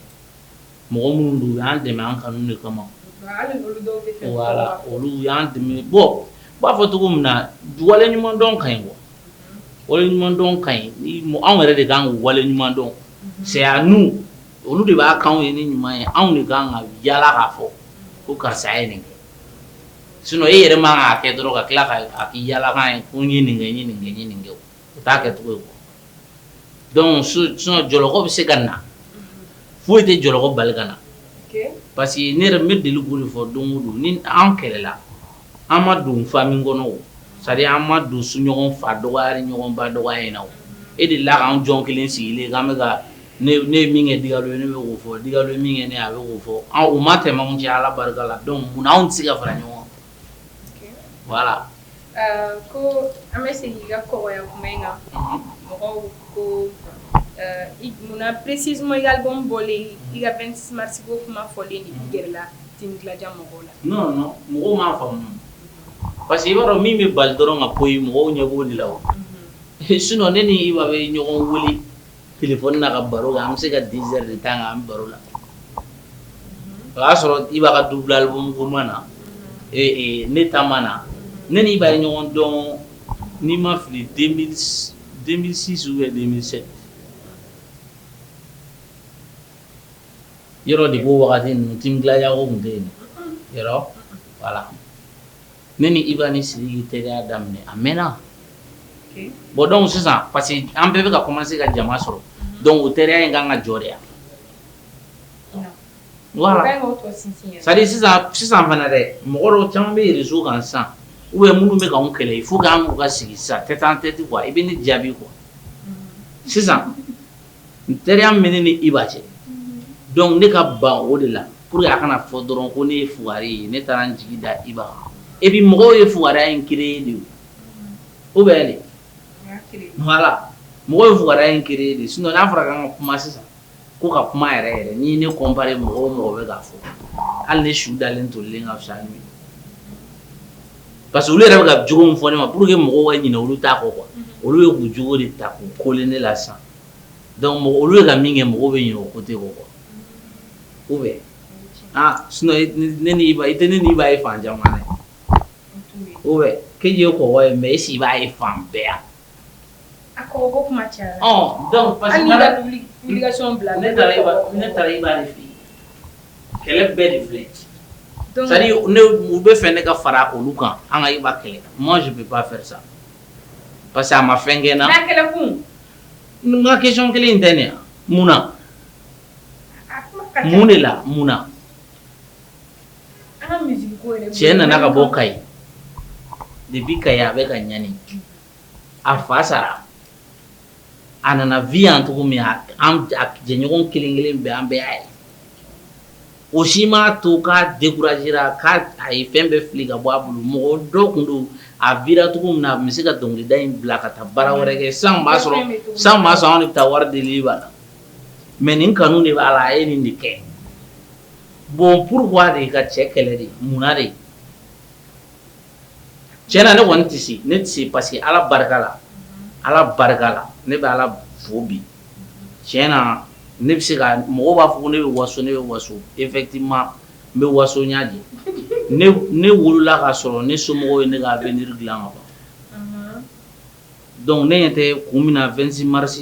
mɔgɔ minnu don u y'an dɛmɛ an ka de kama olu y'an dɛmɛ bon u b'a fɔ cogo min na wale ɲuman dɔn ka ɲi bon wale ɲuman dɔn ka ɲi anw yɛrɛ de kan wale ɲuman dɔn c'est à dire n'olu de b'a k'an ye ni ɲuman ye anw de ka kan ka yaala k'a fɔ ko karisa ye nin kɛ sinon e yɛrɛ man kan k'a kɛ dɔrɔn ka tila k'a k'i yaalakan ye ko n ye nin kɛ n ye nin kɛ n ye nin kɛ o t'a kɛcogo ye quoi donc sinon jɔlɔkɔ bɛ se ka na foyi tɛ jɔlɔkɔ bali ka na parce que ne yɛrɛ n bɛ deli k'o de fɔ don o don ni an kɛlɛla an ma don famille kɔnɔ o c'est à dire an ma don su ɲɔgɔn fa dɔgɔya ni ɲɔgɔn ba dɔgɔya in na o e delila k'an jɔn kelen sigilen ye k'an bɛ ka ne ye min kɛ Digalo ye ne bɛ k'o fɔ Digalo ye min kɛ ne ye a bɛ k'o fɔ anw u ma tɛmɛ anw cɛ Ala barika la donc mun na anw tɛ se ka fara ɲɔgɔn kan voilà ko an bɛ segin i ka kɔkɔya kuma in kan mɔgɔw ko mun na précisément i ka album bɔlen i ka 26 mars ko kuma fɔlen i gɛrɛla Team Gladia mɔgɔw la non non mɔgɔw m'a faamu parce que i b'a dɔn min bɛ bali dɔrɔn ka ko ye mɔgɔw ɲɛ b'o de la o sinon ne ni Iba bɛ ɲɔgɔn wele kɛlɛfɔ na ka baro la an bɛ se ka diz de tan an baro la o y'a sɔrɔ i b'a ka dubilalima na ne taama na ne ni b'a ɲɔgɔn dɔn ni ma fili denmisɛnninsi bɛ denmisɛnmi yɔrɔ de ko wagati ninnu tɛyago tun bɛ yen wala ne ni Iba ni Sidiki teriya daminɛ a mɛnna bon donc sisan parce que an bɛɛ bɛ ka commencer ka jama sɔrɔ donc o teriya in ka kan ka jɔ de yan sisan sisan fana dɛ mɔgɔ caman bɛ réseau kan sisan u bɛ minnu bɛ anw kɛlɛ i fo k' ka sigi sisan tɛ taa an tɛ i bɛ ne jaabi kɔ sisan N teriya min ne ni Iba cɛ donc ne ka ban o de la pour que a kana fɔ dɔrɔn ko ne ye fugari ye ne taara n jigi da Iba kan et puis mɔgɔw ye fugariya in créer de ye o bɛ de mɔgɔ ye fugariya in créer de sinon n'a fɔra an ka kuma sisan ko ka kuma yɛrɛ yɛrɛ ni ne comparer mɔgɔ o mɔgɔ bɛ k'a fɔ hali ne su dalen tolen ka fisa Parce que olu yɛrɛ bɛ ka jogo min fɔ ne ma pour que mɔgɔw ka ɲinɛ olu ta kɔ quoi unhun, olu bɛ k'u jogo de ta k'u kole ne la sisan donc mɔgɔ olu bɛ ka min kɛ mɔgɔw bɛ ɲinɛ o côté kɔ quoi ou bien aa sinon i ni ne ni Iba i tɛ ne ni Iba ye fan caman na, ou bien Kedji ye kɔkɔ ye mais est ce que i b'a ye fan bɛɛ wa? b'a fɛ ne ka fara olu kan an ka Iba kɛlɛ moi je peux pas faire ça parce que a ma fɛn kɛ n na question kelen in tɛ ne yan mun na mun de la mun cɛ nana ka bɔ kayi depuis kayi a bɛ ka ɲani a fa sara a nana vie yan cogo min a jɛɲɔgɔn kelen kelen bɛɛ an bɛɛ y'a ye o si m'a to k'a décourager ra k'a ye fɛn bɛɛ fili ka bɔ a bolo mɔgɔ dɔ tun do a vira cogo min na a tun bɛ se ka dɔnkilida in bila ka taa baara wɛrɛ kɛ sisan tun b'a sɔrɔ sisan tun b'a sɔrɔ anw de bɛ taa wari delili b'a la mais nin kanu de b'a la a ye nin de kɛ. Bon pourquoi de i ka cɛ kɛlɛ de mun na de cɛn na ne kɔni tɛ se ne tɛ se parce que ala barika la ala barika la ne bɛ ala fo bi cɛn na ne bɛ se ka mɔgɔ b'a fɔ ko ne bɛ waso ne bɛ waso effectivement n bɛ waso ɲ de ne wolola k'a sɔrɔ ne somɔgɔw ye ne ka avenir dilan kaban Dɔnku ne ɲɛ tɛ kun min na vingt-six mars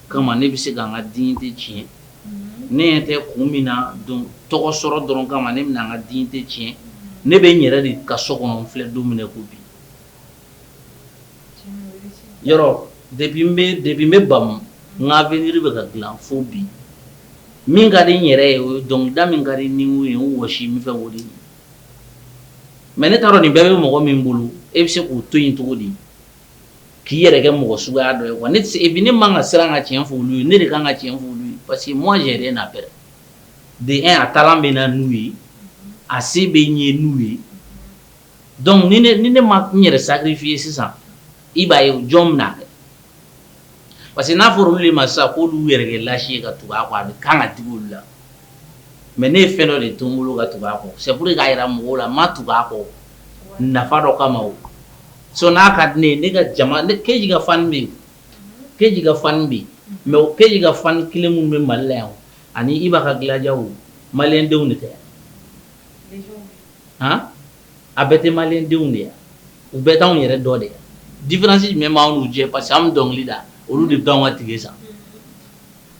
kama ne bɛ se ka n ka dignité tiɲɛ ne ɲɛ tɛ kun min na don tɔgɔ sɔrɔ dɔrɔn kama ne bɛna n ka dignité tiɲɛ ne bɛ n yɛrɛ de ka so kɔnɔ n filɛ don minɛ ko bi yɔrɔ depuis n bɛ bamu n ka avenir bɛ ka dilan fo bi min ka di n yɛrɛ ye o dɔnkilida min ka di ni ye o wa si min fɛ o de ye Mais ne ta rɔ nin bɛɛ bɛ mɔgɔ min bolo e bɛ se k'o to yen cogo di k'i yɛrɛ kɛ mɔgɔ suguya dɔ ye wa ne ne man kan ka siran ka cɛn fɔ olu ye ne de ka kan ka cɛn fɔ olu ye parce que mɔn yɛrɛ n'a bɛɛ de a talent bɛ n na n'u ye a se bɛ n ye n'u ye dɔnku ni ne ma n yɛrɛ sacrifier sisan i b'a ye jɔn bɛna parce que n'a fɔra olu de ma sisan k'olu y'u yɛrɛ kɛ lâche ye ka tugu a kɔ a bɛ kan ka digi olu la mais ne ye fɛn dɔ de to n bolo ka tugu a kɔ c'est pour que k'a jira mɔgɔw la n ma tugu a kɔ nafa dɔ kama o sinon n'a ka di ne ye ne ka jama ne Kedji ka fan bɛ yen Kedji ka fan bɛ yen mais o Kedji ka fan kelen minnu bɛ Mali la yan o ani Iba ka Gladiaw o maliyɛndenw de tɛ han A bɛɛ tɛ malidenw de yan u bɛɛ taa yɛrɛ dɔ de différence jumɛn b'an cɛ parce que an dɔnkili da olu de dɔn ka tile sa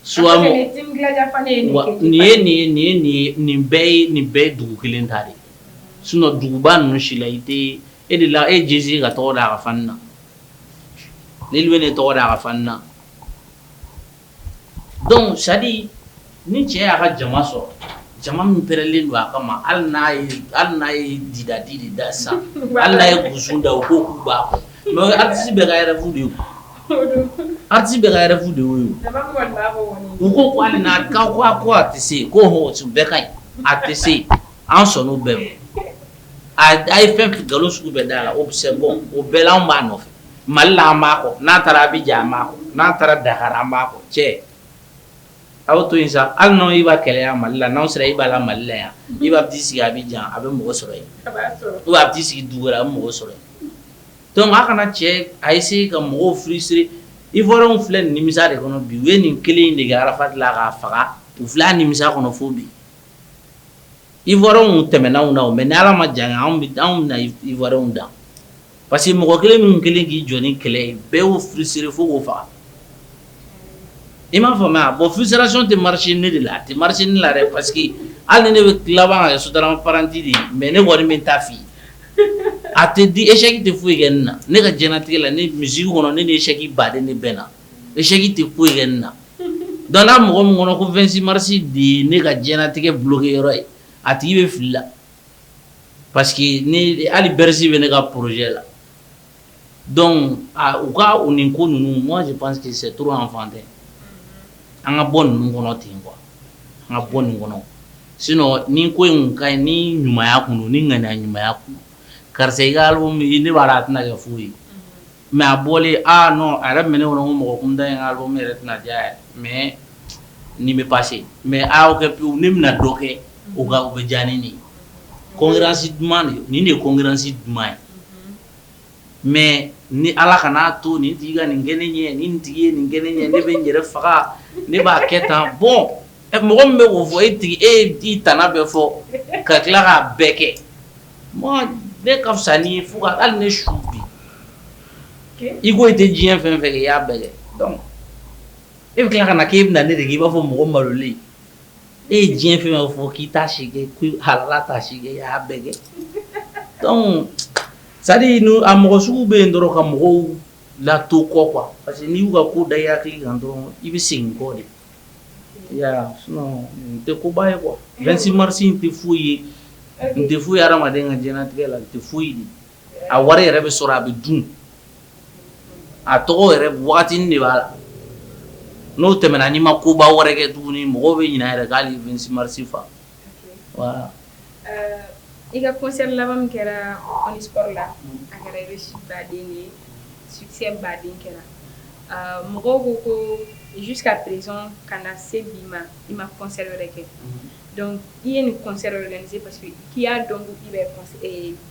su nin ye nin ye nin bɛɛ ye nin bɛɛ dugu kelen ta de ye sinon duguba ninnu si la i tɛ e de la e jse ka tɔgɔ da a ka na ni bɛ ne tɔgɔ da a ka na dɔnku c'est-à-dire ni cɛ y'a ka jama sɔrɔ jama min plen don a kama hali hali n'a ye didadi de da sa hali n'a ye gusun da o ko kun mɛ artiste bɛ yɛrɛfu de artiste bɛ yɛrɛfu de ye u ko ko n'a ka ko a ko a tɛ se ko bɛɛ ka ɲi a tɛ se an sɔn' bɛɛ a da ye fɛn nkalon sugu bɛɛ da la o bɛ se bɔ o bɛɛ an b'a nɔfɛ mali n'a taara Abidjan an n'a taara Dakar an b' cɛ aw to yen sa hali n' i b'a kɛlɛya mali la n'aw sera i b'a la malila yan i b'a sigi Abidjan a bɛ mɔgɔ sɔrɔ yen o b'a sigi dugu wɛrɛ a bɛ mɔgɔ sɔrɔ dɔnku a kana cɛ a ye se ka mɔgɔw frustré i bɔra filɛ nimisa de kɔnɔ bi u ye nin kelen de Arafat dilan k'a faga u filɛ nimisa kɔnɔ fo bi i tɛmɛna na mɛ ni ala ma jan anw bɛ anw na iw da Parce que mɔgɔ kelen minnu kelen k'i jɔ ni kɛlɛ ye bɛɛ y'o frustré fo k'o faga i m'a fɔ mɛ a bɔ frustration tɛ marisi ne de la a tɛ marisi ne la dɛ parce que hali ne bɛ tilaba ye transparent de ye mɛ ne wari min ta f'i ye a tɛ di échec tɛ foyi kɛ ne na ne ka jigitigɛ la ni misi kɔnɔ ne de ye échec baden ne bɛɛ na échec tɛ foyi kɛ ne na dan mɔgɔ min kɔnɔ ko fɛnsi marisi de ye ne ka jigitigɛ bulon kɛ yɔrɔ ye a tigi i bɛ fili la Parce que ni hali Bercy bɛ ne ka projet la dɔnku u ka u nin ko ninnu moi je pense que c'est trop enfantin an ka bɔ ninnu kɔnɔ ten quoi an ka bɔ nin kɔnɔ sinon nin ko in ka ni ɲumanya kun ni ŋ ɲumanya kun karisa i ka album nin baara tɛna kɛ foyi ye mɛ a bɔlen aaa nɔn a yɛrɛ minɛ kɔnɔ ko mɔgɔ kun da i ka album yɛrɛ tɛna diya yɛrɛ mɛ nin bɛ baasi se mɛ aw kɛ pewu ne bɛna dɔ kɛ u ka u bɛ diya ni nin concurrence duman de nin de ye concurrence duman ye mɛ ni ala ka n'a to nin tɛ ka nin kelen ɲɛ ni tigi ye nin kelen ɲɛ ne bɛ n yɛrɛ faga ne b'a kɛ tan bɔn mɔgɔ min bɛ' fɔ e tigi e ye i tana bɛɛ fɔ ka tila k'a bɛɛ kɛ bɛɛ ka fisa n'i ye fo ka hali ne su bi i ko i tɛ diɲɛ fɛn fɛ i y'a bɛɛ e bɛ tila ka na k'i bɛna na ne de k'i b'a fɔ mɔgɔ malolen e ye diɲɛ fɛn bɛɛ fɔ k'i ta si hala ta si i y'a bɛɛ kɛ sa a mɔgɔ sugu bɛ yen dɔrɔn ka mɔgɔw la to kɔ quoi parce que n'i y'u ka ko da i hakili kan dɔrɔn i bɛ segin kɔ de Ya n tɛ koba ye quoi 26 mars in tɛ foyi ye n tɛ foyi ye adamaden ka diɲɛlatigɛ la tɛ foyi ye a wari yɛrɛ bɛ sɔrɔ a bɛ dun a tɔgɔ yɛrɛ waati de b'a la n'o tɛmɛna n'i ma koba wɛrɛ kɛ tuguni mɔgɔ bɛ ɲinɛ yɛrɛ k'ale ye 26 mars fa I ka kɔsa laban kɛra la a kɛra i bɛ su baden ye su baden kɛra mɔgɔw ko ko su ka pz ka na se bi ma i ma kɔsɛ wɛrɛ kɛ dɔnku i ye nin kɔsɛ wɛrɛ se pa k'i y'a dɔn i bɛ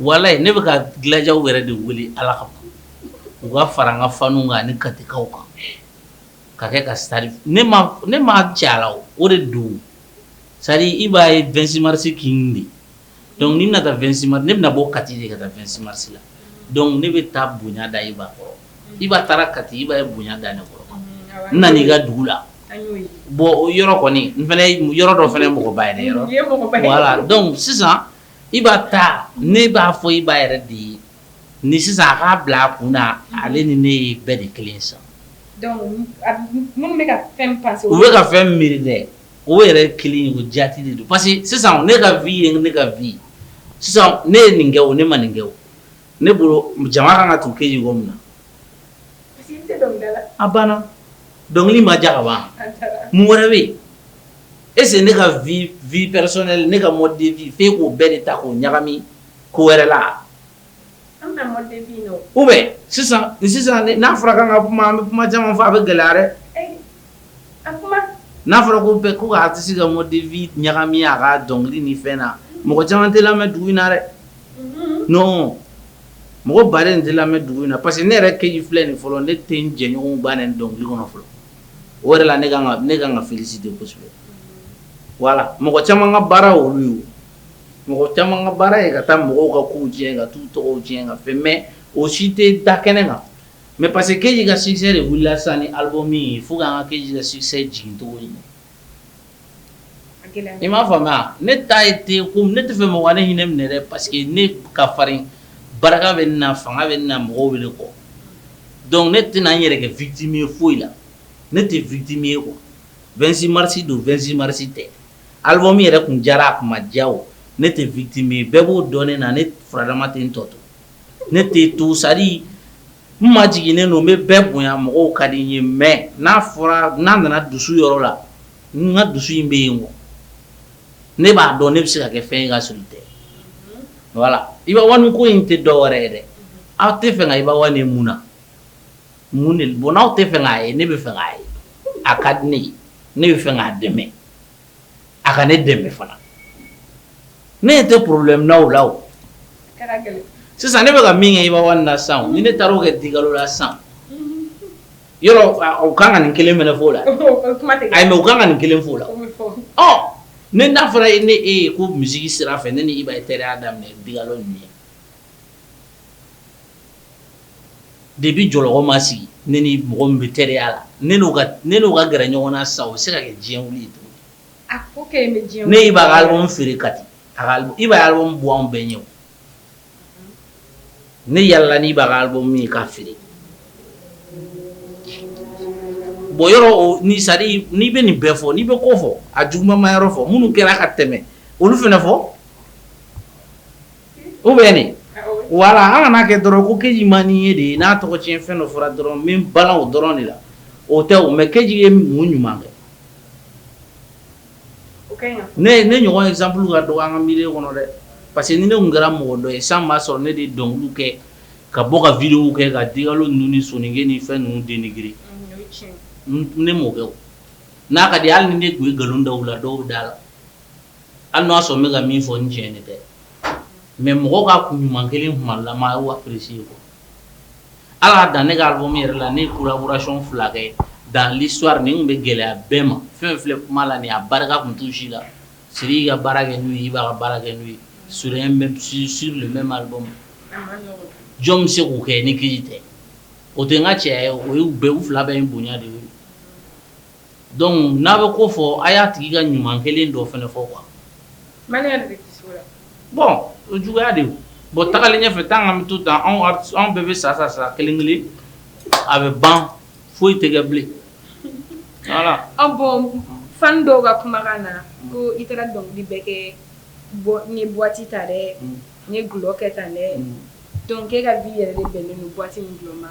walayi ne bɛ ka Gladiaw yɛrɛ de wele Ala kama u ka fara an ka faniw kan ani katikaw kan ka kɛ ka stade ne m'a cɛ a la o de don c'est à dire Iba ye 26 mars king de donc ne bɛna taa 26 mars ne bɛna bɔ Kati de ka taa 26 mars la donc ne bɛ taa bonya da Iba kɔrɔ. Iba taara Kati Iba ye bonya da ne kɔrɔ ne ka dugu la bon o yɔrɔ kɔni yɔrɔ dɔ fana mɔgɔ ba yɛrɛ dɔn sisan Iba ta ne b'a fɔ Iba yɛrɛ de ye ni sisan a k'a bila a kun ale ni ne ye bɛɛ de kelen sa minnu bɛ ka fɛn pa u bɛ ka fɛn miiri dɛ o yɛrɛ kelen o jate de don parce que sisan ne ka vie ye ne ka vie sisan ne ye nin kɛ o ne ma nin kɛ ne bolo jama ka kan ka tugu KJ kɔ min na a banna dɔnkili ma diya ka ban mun wɛrɛ bɛ yen est-ce ne ka vie personnelle ne ka mode de vie fɛ k'o bɛɛ de ta k'o ɲagami ko wɛrɛ la u bɛ sisan sisan n'a fɔra ka ka kuma bɛ kuma caman fɔ a bɛ gɛlɛya dɛ n'a fɔra ko bɛɛ ko a tɛ se ka mode de vie ɲagami a ka dɔnkili ni fɛn na mɔgɔ caman tɛ lamɛn dugu in na dɛ non mɔgɔ ba in tɛ lamɛn dugu in na parce que ne yɛrɛ KJ filɛ nin fɔlɔ ne tɛ jɛɲɔgɔn ban nin dɔnkili kɔnɔ fɔlɔ o yɛrɛ la ne ne ka ka fisi de kosɛbɛ wala mɔgɔ caman ka baara olu ye mɔgɔ caman ka baara ye ka taa mɔgɔw ka ko tiɲɛ ka taa tɔgɔ tiɲɛ ka fɛn mais o si tɛ da kɛnɛ kan Mais parce que keyita ka succès de wulila sa ni album in ye fo k' ka keyita succès jigin tɔgɔ ye i m'a faamuya ne ta ye den ko ne t'a fɛ mɔgɔ ne hinɛ ne minɛ dɛ parce que ne ka farin barika bɛ n na fanga bɛ n na mɔgɔw bɛ ne kɔ donc ne tɛna n yɛrɛ kɛ victime ye foyi la ne tɛ victime ye ko 26 mars don 26 mars tɛ album in yɛrɛ tun diyara a kuma ma diya ne tɛ victime bɛɛ b'o dɔn ne na ne farama tɛ n tɔ to ne tɛ to sari n majiginnen don n bɛ bɛɛ bonya mɔgɔw ka di n ye mais n'a fɔra n'a nana dusu yɔrɔ la n ka dusu in bɛ yen o ne b'a dɔn ne bɛ se ka kɛ fɛn ka s tɛ voilà Iba One ko in tɛ dɔ wɛrɛ ye dɛ aw tɛ fɛ ka Iba One mun na mun ye bon n'aw tɛ fɛ k'a ye ne bɛ fɛ k'a ye a ka di ne ye ne bɛ fɛ k'a dɛmɛ a ka ne dɛmɛ fana ne yɛrɛ tɛ problème na o la o, a ka na gɛlɛn, sisan ne bɛ ka min kɛ Iba One na sisan o, ni ne taar'o kɛ Digalo la sisan, yɔrɔ u ka kan ka nin kelen fana fɔ o la, ayi mais u ka kan ka nin kelen fɔ o la, o bɛ fɔ, ɔ ni n'a fɔra e ni e ye ko musique sira fɛ ne ni Iba ye teriya daminɛ Digalo ɲɛ Depuis Jɔlɔkɔ ma sigi ne ni mɔgɔ min bɛ teriya la ne n'o ka gɛrɛ ɲɔgɔn na sa o bɛ se ka kɛ diɲɛ wili ye ne ye Iba album feere Kati Iba album bɔ anw bɛɛ ɲɛ ne yaalala ni Iba album ye k'a feere bon yɔrɔsari n'i bɛ nin bɛɛ fɔ n'i bɛ ko fɔ a juguba ma yɔrɔ fɔ minnu kɛra ka tɛmɛ olu fana fɔ u bɛ nin voilà an kan'a kɛ dɔrɔn ko KJ man ɲi de ye n'a tɔgɔcɛn fɛn dɔ fɔra dɔrɔn min bala o dɔrɔn de la o tɛ mɛ KJ ye mun ɲuman kɛ ne ye ne ɲɔgɔn exemple ka dɔgɔ an ka milieu kɔnɔ dɛ parce que ni ne kɛra mɔgɔ dɔ ye san b'a sɔrɔ ne de dɔnkili kɛ ka bɔ ka vidéo kɛ ka di ninnu sɔnke ni fɛn ninnu den g ne mɔkɛ n'a ka di hali ni ne tun ye nkalon da la dɔw da la Hali n'a y'a sɔrɔ n bɛ ka min fɔ n tiɲɛ de tɛ mais mɔgɔ ka ko ɲuman kɛlen kumalama a y'o apprécier quoi hali a dan ne ka album yɛrɛ la ne ye collaboration 2 kɛ dans l'histoire nin tun bɛ gɛlɛya bɛɛ ma fɛn o fɛn filɛ kuma la nin ye a barika tun t'u si la Sidiki ka baara kɛ n'u ye Iba ka baara kɛ n'u ye sur un même sur sur le même album a man nɔgɔn jɔn bɛ se k'o kɛ ni Keyita tɛ o tɛ n ka cɛya ye o ye u bɛɛ u 2 bɛɛ ye n bonya de ye Donc n'a bɛ ko fɔ a y'a tigi ka ɲuman kɛlen dɔ fana fɔ quoi bon o juguya de bɔn tagalen ɲɛfɛ tan ka to ta anw bɛɛ bɛ sa sa sa kelen kelen a bɛ ban foyi tɛ kɛ bilen ah bon fans dɔw ka kumakan na ko i taara dɔnkili bɛ kɛ ni boite ta dɛ n ye glɔkɛ ta dɛ dɔnkɛ ka' yɛrɛ bɛn ni boite min ma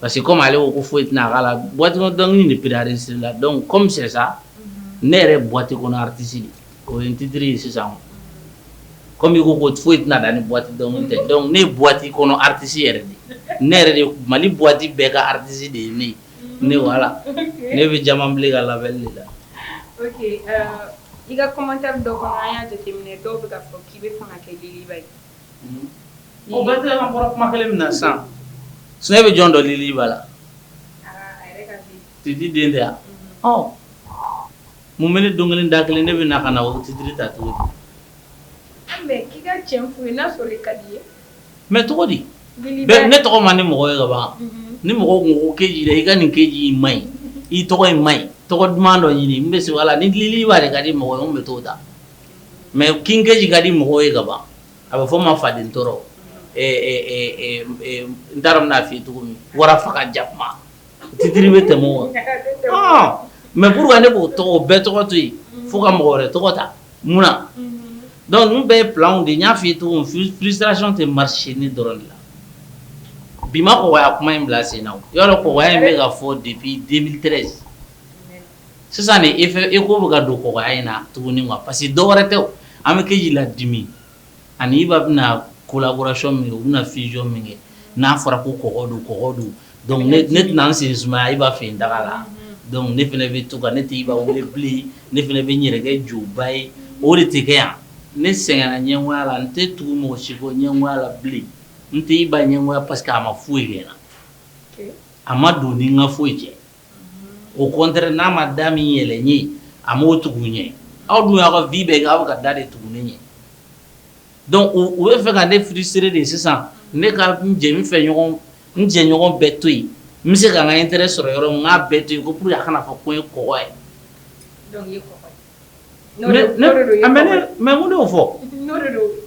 Parce que comme ale ko ko foyi tɛna k'a la boite kɔnɔ dɔnkili in de préparer len sera i la donc comme c'est ça ne yɛrɛ ye boite kɔnɔ artiste de ye o ye n titre ye sisan comme i ko ko foyi tɛ ne da ni boite dɔnkili tɛ donc ne ye boite kɔnɔ artiste yɛrɛ de ye ne yɛrɛ de ye Mali boite bɛɛ ka artiste de ye ne ye ne voilà ne bɛ Diamantble ka label de la. Ok i ka commentaire dɔ kɔnɔ an y'a jateminɛ dɔw bɛ k'a fɔ k'i bɛ fɛ ka kɛ liluba ye. O bɛ kɔrɔ kuma kelen min na san s bɛ jɔn don Lil Iba la Titiden tɛ yan mun bɛ ne don kelen da kelen ne bɛ na ka na o tɛ di ta to mɛ tɔgɔ di ne tɔgɔ man di mɔgɔ ye kaban ni mɔgɔ ko ke i ka nin KJ in ma ɲi i tɔgɔ in ma ɲi tɔgɔ duman dɔ ɲini n bɛ se voilà ni Lil Iba de ka di mɔgɔ ye n bɛ tɔgɔ da mɛ King KJ ka di mɔgɔw ye ka ban a bɛ fɔ n ma faden tɔɔrɔ n taara bɛna fɔ cogo min wara faga ka jakuma fitiri bɛ tɛmɛ o mɛ puru ne b'o tɔgɔ bɛɛ tɔgɔ to yen fo ka mɔgɔ wɛrɛ tɔgɔ ta mun na dɔnku bɛɛ ye filanw de y'a fɔ cogo frustration tɛ mari si ni dɔrɔn de la bi ma kɔgɔya kuma in bila sen na kɔgɔya in bɛ ka fɔ depuis deux mille treize sisan de eko bɛ ka don kɔgɔya in na tuguni quoi parce que dɔwɛrɛ tɛ o, an bɛ kɛ k'i ladimi ani IBA bɛna collaboration min kɛ u bɛna fusion min kɛ n'a fɔra ko kɔgɔ don kɔgɔ don donc ne tɛna n sen sumaya IBA fɛ yen daga la donc ne fana bɛ to ka ne tɛ IBA wele bilen ne fana bɛ n yɛrɛ kɛ jɔba ye o de tɛ kɛ yan ne sɛgɛnna ɲɛngoya la n tɛ tugu mɔgɔ si kɔ ɲɛngoya la bilen n tɛ IBA ɲɛngoya parce que a ma foyi kɛ n na a ma don ni n ka foyi cɛ au contraire n'a ma da min yɛlɛ n ye a ma o tugu n ɲɛ aw dun y'aw ka vie bɛɛ kɛ aw bɛ ka da de tugu ne ɲɛ dɔnku u b'a fɛ ka ne frustrer de sisan ne ka n jɛ fɛ ɲɔgɔn n jɛ ɲɔgɔn bɛɛ to yen n bɛ se ka n ka intérêt sɔrɔ yɔrɔ min n k'a bɛɛ to yen ko puru a kana fɔ ko n ye kɔgɔ ye Mɛ'o fɔ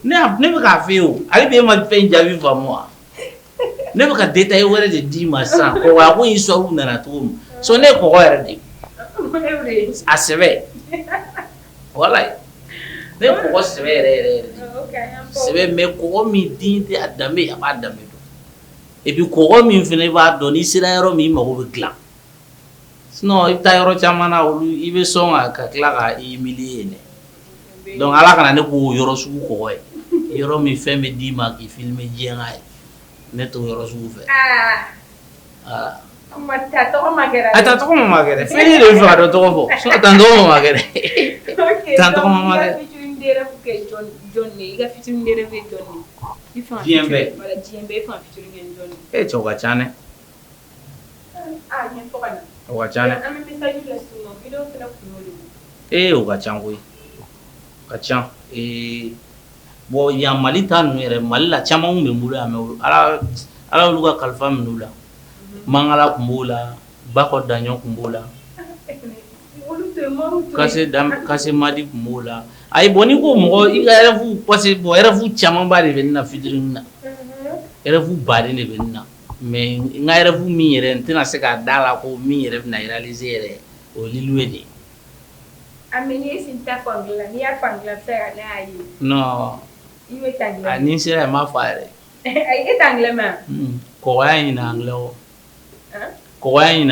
ne bɛ k'a fɛ o ale bɛ e ma fɛn jaabi faamu wa ne bɛ ka den ta e wɛrɛ de d'i ma sa wa a ko y'i sɔn nana cogo min sɔn ne kɔgɔ yɛrɛ de a sɛbɛ wala ne mɔgɔ sɛbɛ yɛrɛ yɛrɛ sɛbɛ mɛ kɔgɔ min den tɛ a danbe a b'a danbe dɔn i bɛ kɔgɔ min fana i b'a dɔn n'i sera yɔrɔ min i mago bɛ dila Sinon i bɛ taa yɔrɔ caman na olu i bɛ sɔn ka tila ka i humilier dɛ dɔnku ala kana ne k'o yɔrɔ sugu kɔgɔ ye yɔrɔ min fɛn bɛ d'i ma k'i filmer diɲɛ k'a ye ne t'o yɔrɔ sugu fɛ aa malgré tɔgɔ malgré tan tan tɔgɔ malgré ça dɛ ee o ka ca koyi ka ca ee bon yan mali t ninnu yɛrɛ mali la caman bɛ bolo yan mɛ ala olu ka kalifa minɛ u la Mangala tun b'o la Bako Daɲɔn tun b'o la Kase Madi tun b'o la a bɔn n'i ko mɔgɔ i ka rêve parce bon rêve camanba de bɛ n na futur na rêve ba de bɛ n na mɛ n ka rêve min yɛrɛ n tɛna se ka da a la ko min yɛrɛ bɛna réaliser yɛrɛ o ye ye de ye n sera ma fa yɛrɛ kɔgɔ ɲin kɔ ɲin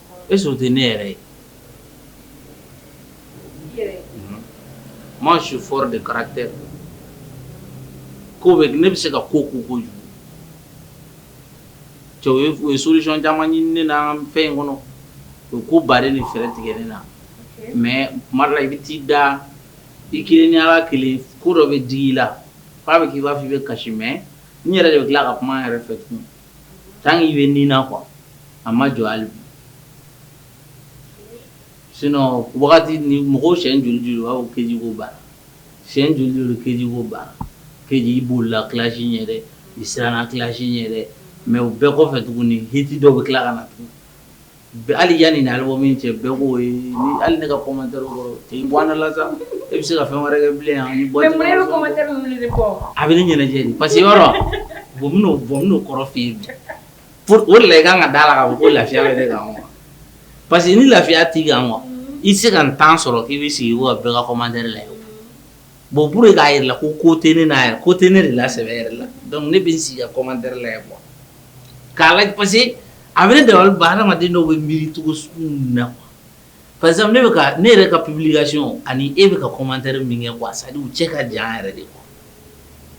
e surtout ne yɛrɛ ye moi je suis fort de caractère ko ne bɛ se ka ko ko ko ye solution caman ɲini ne na fɛn in kɔnɔ o ko ba ni fɛɛrɛ tigɛ ne na mɛ kumala i bɛ t'i da i kelen ni ala kelen ko dɔ bɛ digi i la f'a bɛ kɛ i b'a fɔ i bɛ kasi mɛ n yɛrɛ de tila ka kuma yɛrɛ fɛ tun tan i bɛ ni na ko a ma jɔ hali bi sinon wagati ni mɔgɔw sɛ juru aw KJ ko banna sɛ juru KJ ko banna KJ bolila clash yɛrɛ i siranna clash yɛrɛ mɛ u bɛɛ kɔfɛ tuguni hiti dɔw bɛ tila ka na tugun Hali yanni nin album in cɛ bɛɛ ko hali ne ka commentaire kan na e bɛ se ka fɛn wɛrɛ kɛ bilen yan ni bɔ a bɛ ne ɲɛnajɛ pa yɔrɔo bɔn kɔrɔ fɛ yen o la i ka kan ka da a la ko lafiya bɛ ne kan parce que ni lafiya t'i kan wa i se ka temps sɔrɔ k'i bɛ sigi bɛɛ ka commentaire la bon pour k'a yira i la ko ko tɛ ne na ko tɛ ne de la sɛ yɛrɛ la donc ne bɛ n sigi ka commentaire la yan kuwa k'a la parce que a bɛ ne da ba hadamaden dɔw bɛ miiricogo na pa ne ne yɛrɛ ka publication ani e bɛ ka commentaire min kɛ kuwa sa cɛ ka jan yɛrɛ de kuwa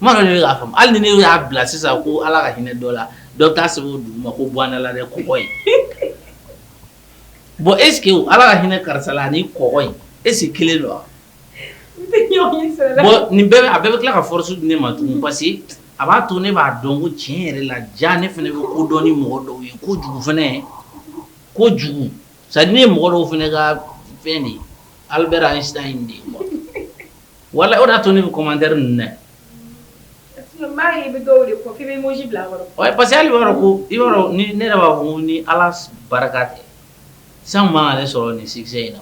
ma k'a fɔ hali ni ne y'a bila sisan ko ala ka hinɛ dɔ la dɔ t'a sɛbɛn o duguma ko bɔnla dɛ kɔ ye bon e ala ka hinɛ karisa la nin kɔ e sigi kelen don wa Nin bɛɛ a bɛɛ bɛ tila ka forosi di ne ma tun parce a b'a to ne b'a dɔn ko tiɲɛ yɛrɛ la ja ne fana bɛ ko dɔn ni mɔgɔ dɔw ye ko jugu fana ye ko jugu sa ne ye mɔgɔ dɔw fana ka fɛn de ye ali bɛ an sira in de ye wala o y'a to ne bɛ commentaire n dɛ parce que b'a ko i ne yɛrɛ b'a fɔ ni ala barika tɛ san b' sɔrɔ nin succès in na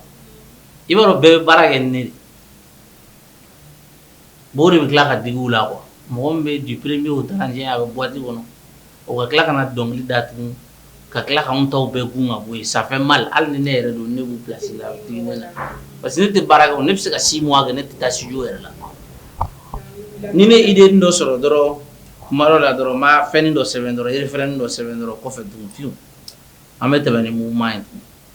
i b'a dɔn bɛɛ bɛ baara kɛ ne mɔgɔ de bɛ tila ka digiw la wa mɔgɔ bɛ jipere bɛ o ta a bɛ bɔti kɔnɔ o ka tila ka na dɔnkili da ka tila ka anw tɔw bɛɛ kun ka bɔ ye sanfɛ mɛ hali ni ne yɛrɛ don ne b'u place la parce que ne tɛ baara kɛ ne bɛ se ka six mois kɛ ne tɛ taa studio yɛrɛ la ni ne ye idée dɔ sɔrɔ dɔrɔn kuma la dɔrɔn ma fɛn dɔ sɛbɛn dɔrɔn e fɛn dɔ sɛbɛn dɔrɔn kɔfɛ dugutigi an bɛ tɛmɛ ni mun ma ye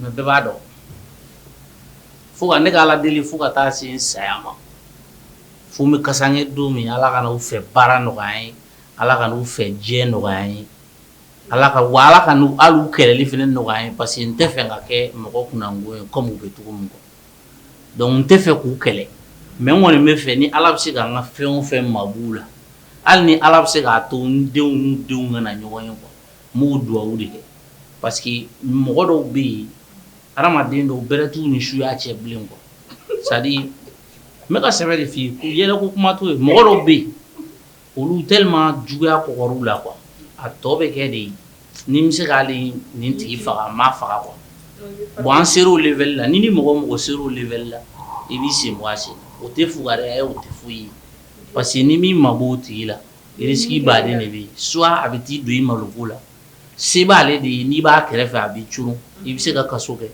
Mɛ bɛɛ b'a dɔn fo ka ne ka ala deli fo ka taa se saya ma fo n bɛ kasanke don min ala kan'u fɛ baara nɔgɔya n ye ala kan'u fɛ diɲɛ nɔgɔya n ye ala ka ala kan'u kɛlɛli fana nɔgɔya n ye parce que n t'a fɛ ka kɛ mɔgɔ kun ye kɔmi n bɛ cogo min kɔ dɔnku n t'a fɛ k'u kɛlɛ mɛ n kɔni b'a fɛ ni ala bɛ se k'an ka fɛn fɛn mabɔ u la hali ni ala bɛ se k'a to denw denw kana ɲɔgɔn ye kuwa n b'o dugawu de kɛ parce que mɔgɔ dɔw bɛ yen hadamaden dɔw bɛrɛ t'u ni suya cɛ bilen quoi c'est à dire n bɛ ka sɛbɛ de f'i ye ko yɛlɛko kuma t'o ye mɔgɔ dɔw bɛ yen olu tellement juguya kɔgɔr'u la quoi a tɔ bɛ kɛ de ni n bɛ se ka hali nin tigi faga n b'a faga quoi bon an ser'o level la n'i ni mɔgɔ o mɔgɔ ser'o level la i b'i senbɔ a sen na o tɛ fugariya ye o tɛ foyi ye parce que n'i m'i mabɔ o tigi la Risiki b'a la de bɛ yen soit a bɛ t'i don i maloko la se b'aale de ye n'i b'a kɛrɛfɛ a bɛ c i bɛ se ka kaso kɛ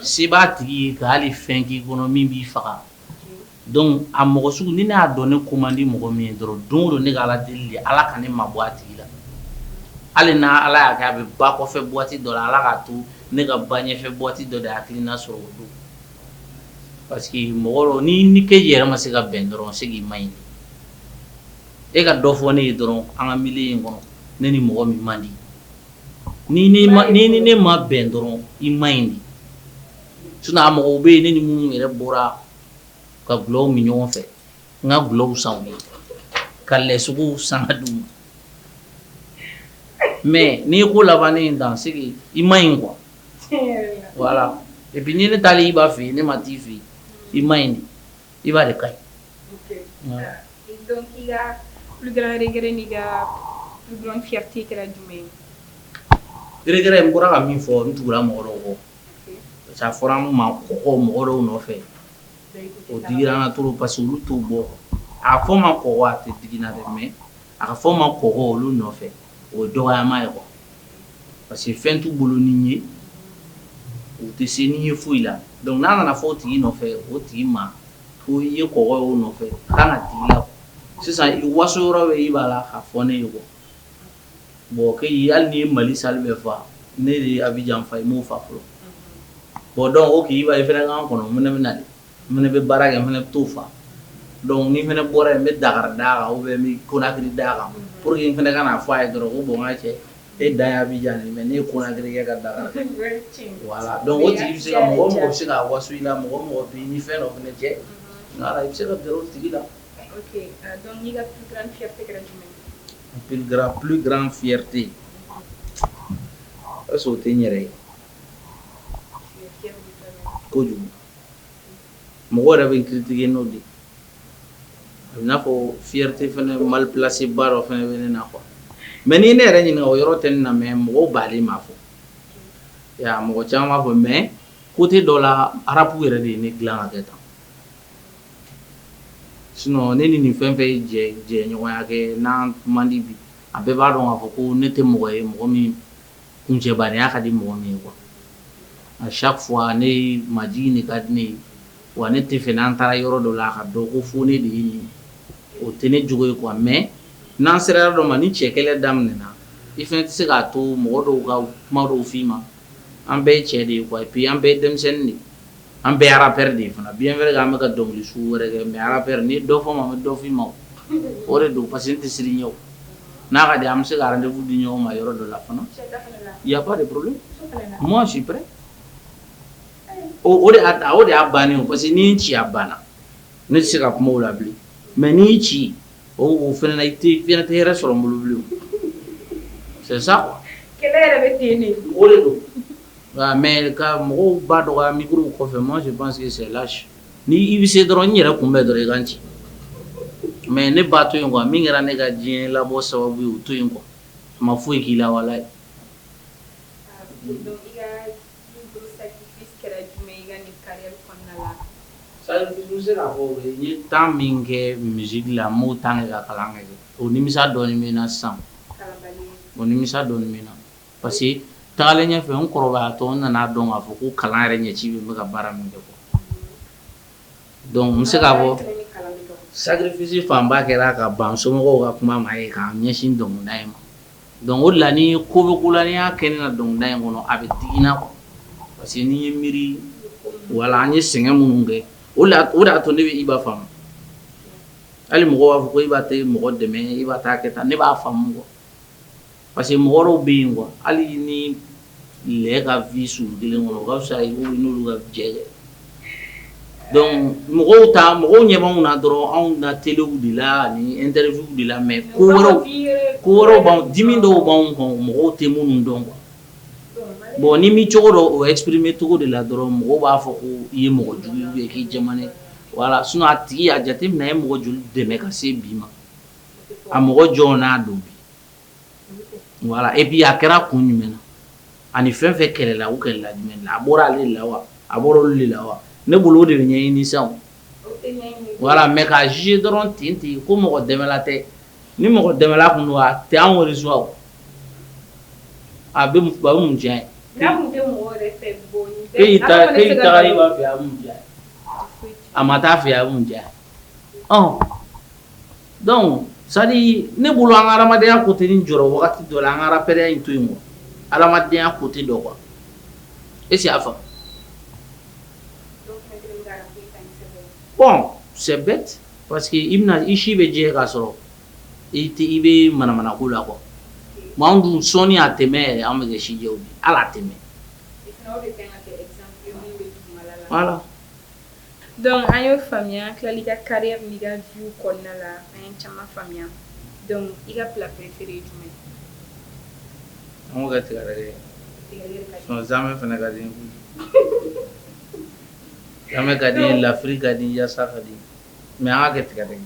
se b'a tigi ye ka hali fɛn k'i kɔnɔ min b'i faga dɔnku a mɔgɔ sugu ni ne y'a dɔn ne ko man di mɔgɔ min ye dɔrɔn don o don ne k'ala deli de ala ka ne mabɔ a tigi la hali n' ala y'a kɛ a bɛ ba kɔfɛ buwati dɔ la ala k'a to ne ka ba ɲɛfɛ buwati dɔ de hakili na sɔrɔ o don Parce que mɔgɔ n'i ni KJ yɛrɛ ma se ka bɛn dɔrɔn c'est que i man ɲi e ka dɔ fɔ ne ye dɔrɔn an ka milieu kɔnɔ ne ni mɔgɔ min man di n'i ni ne ma bɛn dɔrɔn i man ɲi dɛ sinon mɔgɔw bɛ yen ne ni minnu yɛrɛ bɔra ka dɔlɔw min ɲɔgɔn fɛ n ka dɔlɔw san u ye ka lɛsogo san ka d'u ma mɛ n'i ye ko laban ne in dan c'est que i man ɲi kuwa et puis ni ne taara Iba fɛ yen ne ma t'i fɛ yen i man ɲi Iba de ka ɲi kɛɛrɛ n bɔra ka min fɔ n tugura mɔgɔ dɔw kɔ a fɔra n ma ko mɔgɔ dɔw nɔfɛ o digira n na trop parce que olu tun b'a fɔ n ma ko a tɛ digi n na dɛ mɛ A ka fɔ ma kɔ olu nɔfɛ o dɔgɔya ma ye parce que fɛn t'u bolo ni ye u tɛ se ni ye foyi la donc n'a nana fɔ tigi nɔfɛ o tigi ma ko i ye kɔ o nɔfɛ la sisan i waso yɔrɔ bɛ i b'a la ka fɔ ne ye bɔ bon ke hali ni ye mali sa bɛ faa ne de a bɛ janfa i b'o fa fɔlɔ bɔn dɔn o k'i' i fana'an kɔnɔ minɛ bɛ na N fana bɛ baara kɛ n fana bɛ t'o fa donc ni n fana bɔra yen n bɛ Dakar d'a kan ou bien n bɛ Conakry d'a kan pour que n fana kan'a fɔ a ye dɔrɔn ko bon n ka cɛ e dan ye Abidjan de ye mais ne ye Conakry kɛ ka Dakar kɛ voilà donc o tigi bɛ se ka mɔgɔ o mɔgɔ bɛ se ka waso i la mɔgɔ o mɔgɔ bɛ i ni fɛn dɔ fana cɛ voilà i bɛ se ka gɛrɛ o tigi la ok donc i ka plus grande fierté kɛra jumɛn ye plus grande plus grande fierté est ce que o tɛ n yɛrɛ ye tu es fier de toi-même kojugu. mɔgɔ yɛrɛ bɛ n critiquer n'o de ye, a bɛ i n'a fɔ fierté fana mal placée ba dɔ fana bɛ ne na quoi mais n'i ye ne yɛrɛ ɲininka o yɔrɔ tɛ ne na mais mɔgɔw baden b'a fɔ, i y'a ye mɔgɔ caman b'a fɔ mais côté dɔ la rap yɛrɛ de ye ne dilan ka kɛ tan sinon ne ni nin fɛn o fɛn ye jɛɲɔgɔnya kɛ n'an man di bi a bɛɛ b'a dɔn k'a fɔ ko ne tɛ mɔgɔ ye mɔgɔ min kuncɛbaya ka di mɔgɔ min ye quoi à chaque fois ne majigin de ka di ne ye wa ne t'a fɛ n'an taara yɔrɔ dɔ la a k'a dɔn ko fo ne de ye nin o tɛ ne jogo ye quoi mais n'an sera yɔrɔ dɔ ma ni cɛ kɛlɛ daminɛna i fana tɛ se k'a to mɔgɔ dɔw ka kuma dɔw fɔ i ma an bɛɛ ye cɛ de ye quoi et puis an bɛɛ ye denmisɛnnin de ye an bɛɛ rappeur de ye fana bi wɛrɛ an bɛka ka dɔnkili sugu wɛrɛ kɛ mais rappeur ni dɔ fɔ ma bɛ dɔfin ma o de don parce tɛ siri ɲɛ n'a ka di an bɛ se ka rendez-vous di ɲɔgɔn ma yɔrɔ dɔ la fana y a pas de problème sipɛ o de o de y'a bannen parce que ni ci banna ne tɛ se ka kuma la bilen mais n'i ci o o f i tɛ f tɛ yɛrɛ sɔrɔ n bolo bilen sa o de don Nka mais ka mɔgɔw ba dɔgɔya micro kɔfɛ moi je pense que c'est lâche ni i bɛ se dɔrɔn n yɛrɛ kunbɛn dɔrɔn i ka n ci mais ne ba to yen quoi min kɛra ne ka diɲɛ labɔ sababu ye o to yen quoi a ma foyi k'i la walayi n ye temps min kɛ musique la n m'o temps kɛ ka kalan kɛ o nimisa dɔɔnin bɛ n na sisan o nimisa dɔɔnin bɛ n na parce que taalen ɲɛ fɛ n kɔrɔbayatɔ n nana a dɔn k'a fɔ ko kalan yɛrɛ ɲɛci bɛ n bɛ ka baara min kɛ quoi donc n bɛ se k'a fɔ sacrifice fanba kɛra ka ban n somɔgɔw ka kuma ma ye ka n ɲɛsin dɔnkilida in ma donc o de la ni ko bɛ ko la n'i y'a kɛ ne la dɔnkilida in kɔnɔ a bɛ digi n na quoi parce que n'i ye miiri wala an ye sɛgɛn minnu kɛ o de o de y'a to ne bɛ Iba faamu hali mɔgɔw b'a fɔ ko Iba tɛ mɔgɔ dɛmɛ Iba t'a kɛ tan ne b'a faamu quoi Parce que mɔgɔ dɔw bɛ yen quoi hali ni lɛ ka vie surun kelen kɔnɔ o ka fisa i k'olu n'olu ka jɛ kɛ donc mɔgɔw ta mɔgɔw ɲɛ b'anw na dɔrɔn anw na telew de la ani interview de la mais ko wɛrɛw ko wɛrɛw b'anw dimi dɔw b'anw kan o mɔgɔw tɛ minnu dɔn quoi bon n'i m'i cogo dɔn o exprimer cogo de la dɔrɔn mɔgɔw b'a fɔ ko i ye mɔgɔ jugu ye ou bien k'i jɛmanen don voilà sinon a tigi a jateminɛ a ye mɔgɔ joli dɛmɛ ka se bi ma a mɔgɔ jɔn n'a dɔn Voilà et puis a kɛra kun jumɛn na ani fɛn fɛn kɛlɛla u kɛlɛla jumɛn a bɔra ale de la wa a bɔra olu de la wa ne bolo o de bɛ ɲɛɲini sa voilà mais ka juger dɔrɔn ten ten yen ko mɔgɔ dɛmɛla tɛ ni mɔgɔ dɛmɛla tun don a tɛ a réseau a bɛ mun diya e a ma taa fɛ a mun diya Dɔnku sa ne bolo an hadenyaya ko ten ni jɔ wagati jɔ an kaɛrɛ in to yen ma adamadenyaya ko ten dɔ kuwa e y'a fa sɛ pa que i bɛna i si bɛ diɲɛ k'a sɔrɔ i tɛ i bɛ manamana ko la qu kuwa dun sɔɔni' tɛmɛ an bɛ si ala tɛmɛ Donc an y'o faamuya tilali i ka carrière n'i ka vie kɔnɔna na an ye caman faamuya donc i ka plat préféré jumɛn ka tigɛ yɛrɛmɛ fana ka di n ye a ka di n ye lafiri ka di yasa ka di mais an k'a kɛ tigadɛgɛ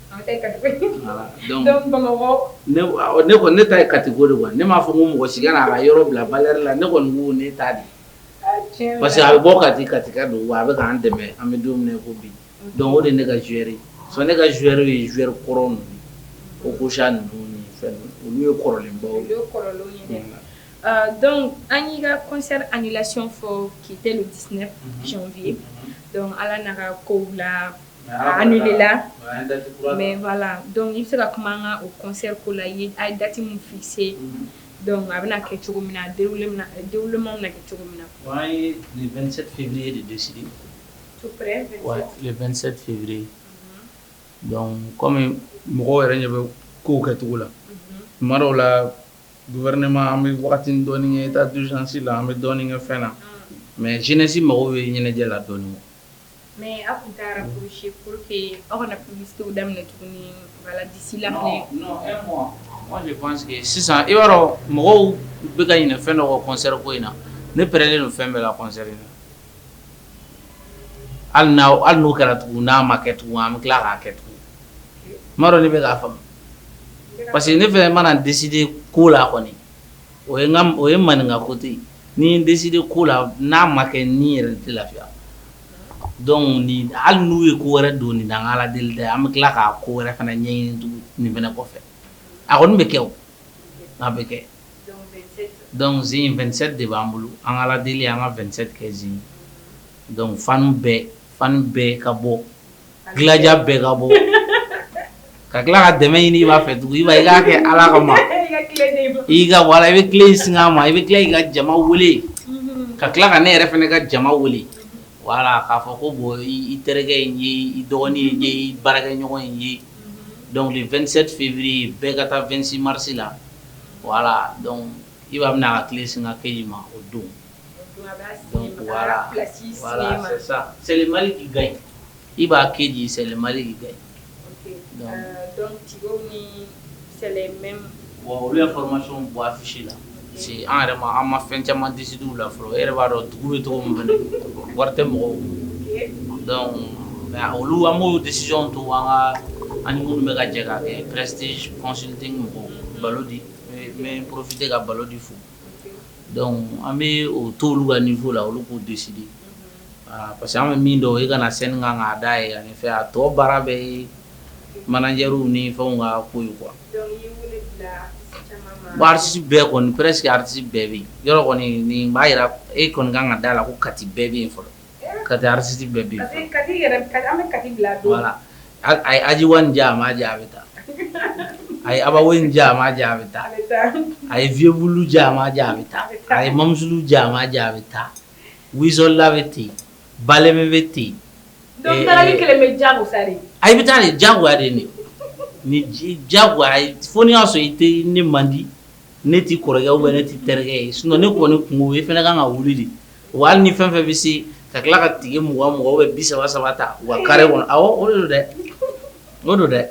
Ne ta ye catégorie de quoi ne m'a fɔ ko mɔgɔ si kana i yɛrɛ bila ba la ne kɔni ne ta di parce que a bɛ bɔ ka di kati don a bɛ k'an dɛmɛ an bɛ don ko bi dɔn o de ne ka génération ne ka génération ye z kɔrɔ ko ko olu ye kɔrɔlenbaw donc an y'i ka concert in lacon fɔ k'i tɛ le 19 janvier la nana ko la an dɔn i bɛ se ka kuma an ka kɔnsɛri ko la ye a ye dati min fikise dɔnku a bɛna kɛ cogo min na denwma na kɛ cogo min na ye le 27 février kɔmi mɔgɔ yɛrɛ ɲɛ bɛ ko kɛ cogo la tuma dɔw la gouvernement an bɛ waati dɔɔni ye état d'urgence la an bɛ dɔɔnin kɛ fɛn na mɛ jenɛsi mago bɛ ɲɛnajɛ la dɔɔnin Mɛ aw tun taara psi pour que aw kana psiw daminɛ tuguni disi la sisan i yɔrɔ mɔgɔw bɛ ka ɲinɛ fɛn dɔ kɔ kɔnsɛri ko in na ne pɛrɛlen don fɛn bɛɛ la kɔnsɛri na hali n' hali n'o kɛra tugun n'a ma kɛ tugun an bɛ tila k'a kɛ tugun tuma dɔ de bɛ k'a faamuya parce que ne yɛrɛ mana deside ko la kɔni O o ye maninka kote ye ni n deside ko la n'a ma kɛ ne yɛrɛ tɛ lafiya dɔnku hali n'u ye ko wɛrɛ don nin an ka ala deli dɛ an bɛ tila ka ko wɛrɛ fana ɲɛɲini tugun nin fana kɔfɛ a kɔni bɛ kɛ a bɛ kɛ dɔnku sisan 27 de b'an bolo an ka ala deli an ka 27 kɛ zi dɔnku fan bɛɛ fan bɛɛ ka bɔ Gladia bɛɛ ka bɔ ka tila ka dɛmɛ ɲini Iba fɛ tugun Iba i k'a kɛ ala kama i ka wala i bɛ kile in singa n ma i bɛ tila i ka jama wele ka tila ka ne yɛrɛ fana ka jama wele wala k'a fɔ ko bɔ i terikɛ in ye i dɔgɔnin ye i baarakɛ ɲɔgɔn in ye dɔnku le 27 février bɛɛ ka taa 26 marisi la wala dɔnku Iba bɛna a ka kile singa KJ ma o don Iba KJ c'est le Mali qui gagne olu ye infɔramasiyɔn bɔ afisi la parce que an yɛrɛ ma an ma fɛn caman deside o la fɔlɔ e yɛrɛ b'a dɔn dugu bɛ cogo min fɛ wari tɛ mɔgɔw dɔnku olu an b'o desiziyɔn to an ka ani minnu bɛ ka jɛ ka kɛ Prestige Consulting mɔgɔw Ballody n bɛ porofite ka Ballody fo Dɔnku an bɛ o to olu ka nivo la olu k'o deside parce que an bɛ min dɔn i ka na sɛni kan ka da ye ani fɛ a tɔ baara bɛɛ ye manajɛriw ni fɛn ka ko ye kuwa aritisi bɛɛ kɔni presque aritisi bɛɛ bɛ yɔrɔ kɔni nin b'a jira e kɔni kan ka da la ko kati bɛɛ bɛ yen fɔlɔ Kati aritisi bɛɛ bɛ a ye Adji One jɛ a ma jɛ a bɛ taa a ye Abba Wayne jɛ a ma jɛ a bɛ taa a ye Viebou Loup jɛ a ma jɛ a bɛ taa a ye mamudu jɛ a ma jɛ a bɛ taa Weei Soldat bɛ ten Baleme bɛ ten a taa ni jagoya de nin ni jago fo n'i y'a sɔrɔ i tɛ ne man di ne t'i kɔrɔkɛ bɛ ne t'i terikɛ ye sinɔn ne kɔni kun ye fana ka kan ka wuli de Wa ni fɛn fɛn bɛ se ka tila ka tikɛ mɔgɔ mɔgɔ bɛ bi saba saba ta wa kari kɔnɔ o don dɛ o don dɛ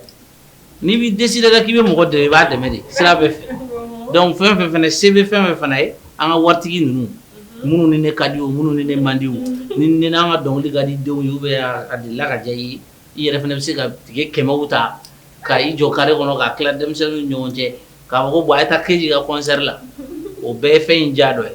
n'i bɛ décider dɛ k'i bɛ mɔgɔ dɛ i b'a dɛmɛ de sira bɛɛ fɛ dɔnku fɛn fɛn fana se bɛ fɛn fɛn fana ye an ka waritigi ninnu minnu ni ne kadi o minnu ni ne mandi ni ni an ka dɔnkili ka di denw ye bɛ a di la ka diya ye i yɛrɛ fana bɛ se ka tikɛ kɛmɛ ta ka i jɔ kari kɔnɔ ka tila denmisɛnnin ɲɔgɔn cɛ k'a fɔ ko bɔn a ye taa keyita kɔnsɛri la o bɛɛ ye fɛn in ja dɔ ye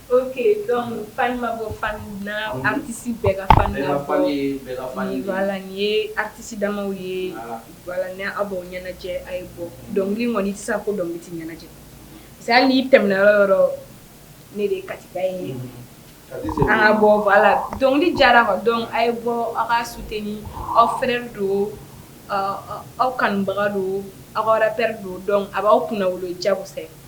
Ok donc fan ma bɔ fan kun na unhun artiste bɛɛ ka fan labɔ bɛɛ ka fan ye bɛɛ ka fan ye voilà nin ye artiste damaw ye voilà voilà ni a b'aw ɲɛnajɛ a' ye bɔ dɔnkili in kɔni i ti se ka ko dɔnkili ti ɲɛnajɛ parce que hali n'i tɛmɛna yɔrɔ o yɔrɔ ne de ye Kati ba ye unhun Kati Seku an ŋa bɔ voilà dɔnkili diyara quoi donc a' ye bɔ aw k'a soutenir aw frère don ɔɔ aw kanubaga don aw ka rappeur don donc a b'aw kunnawolo jakosa ye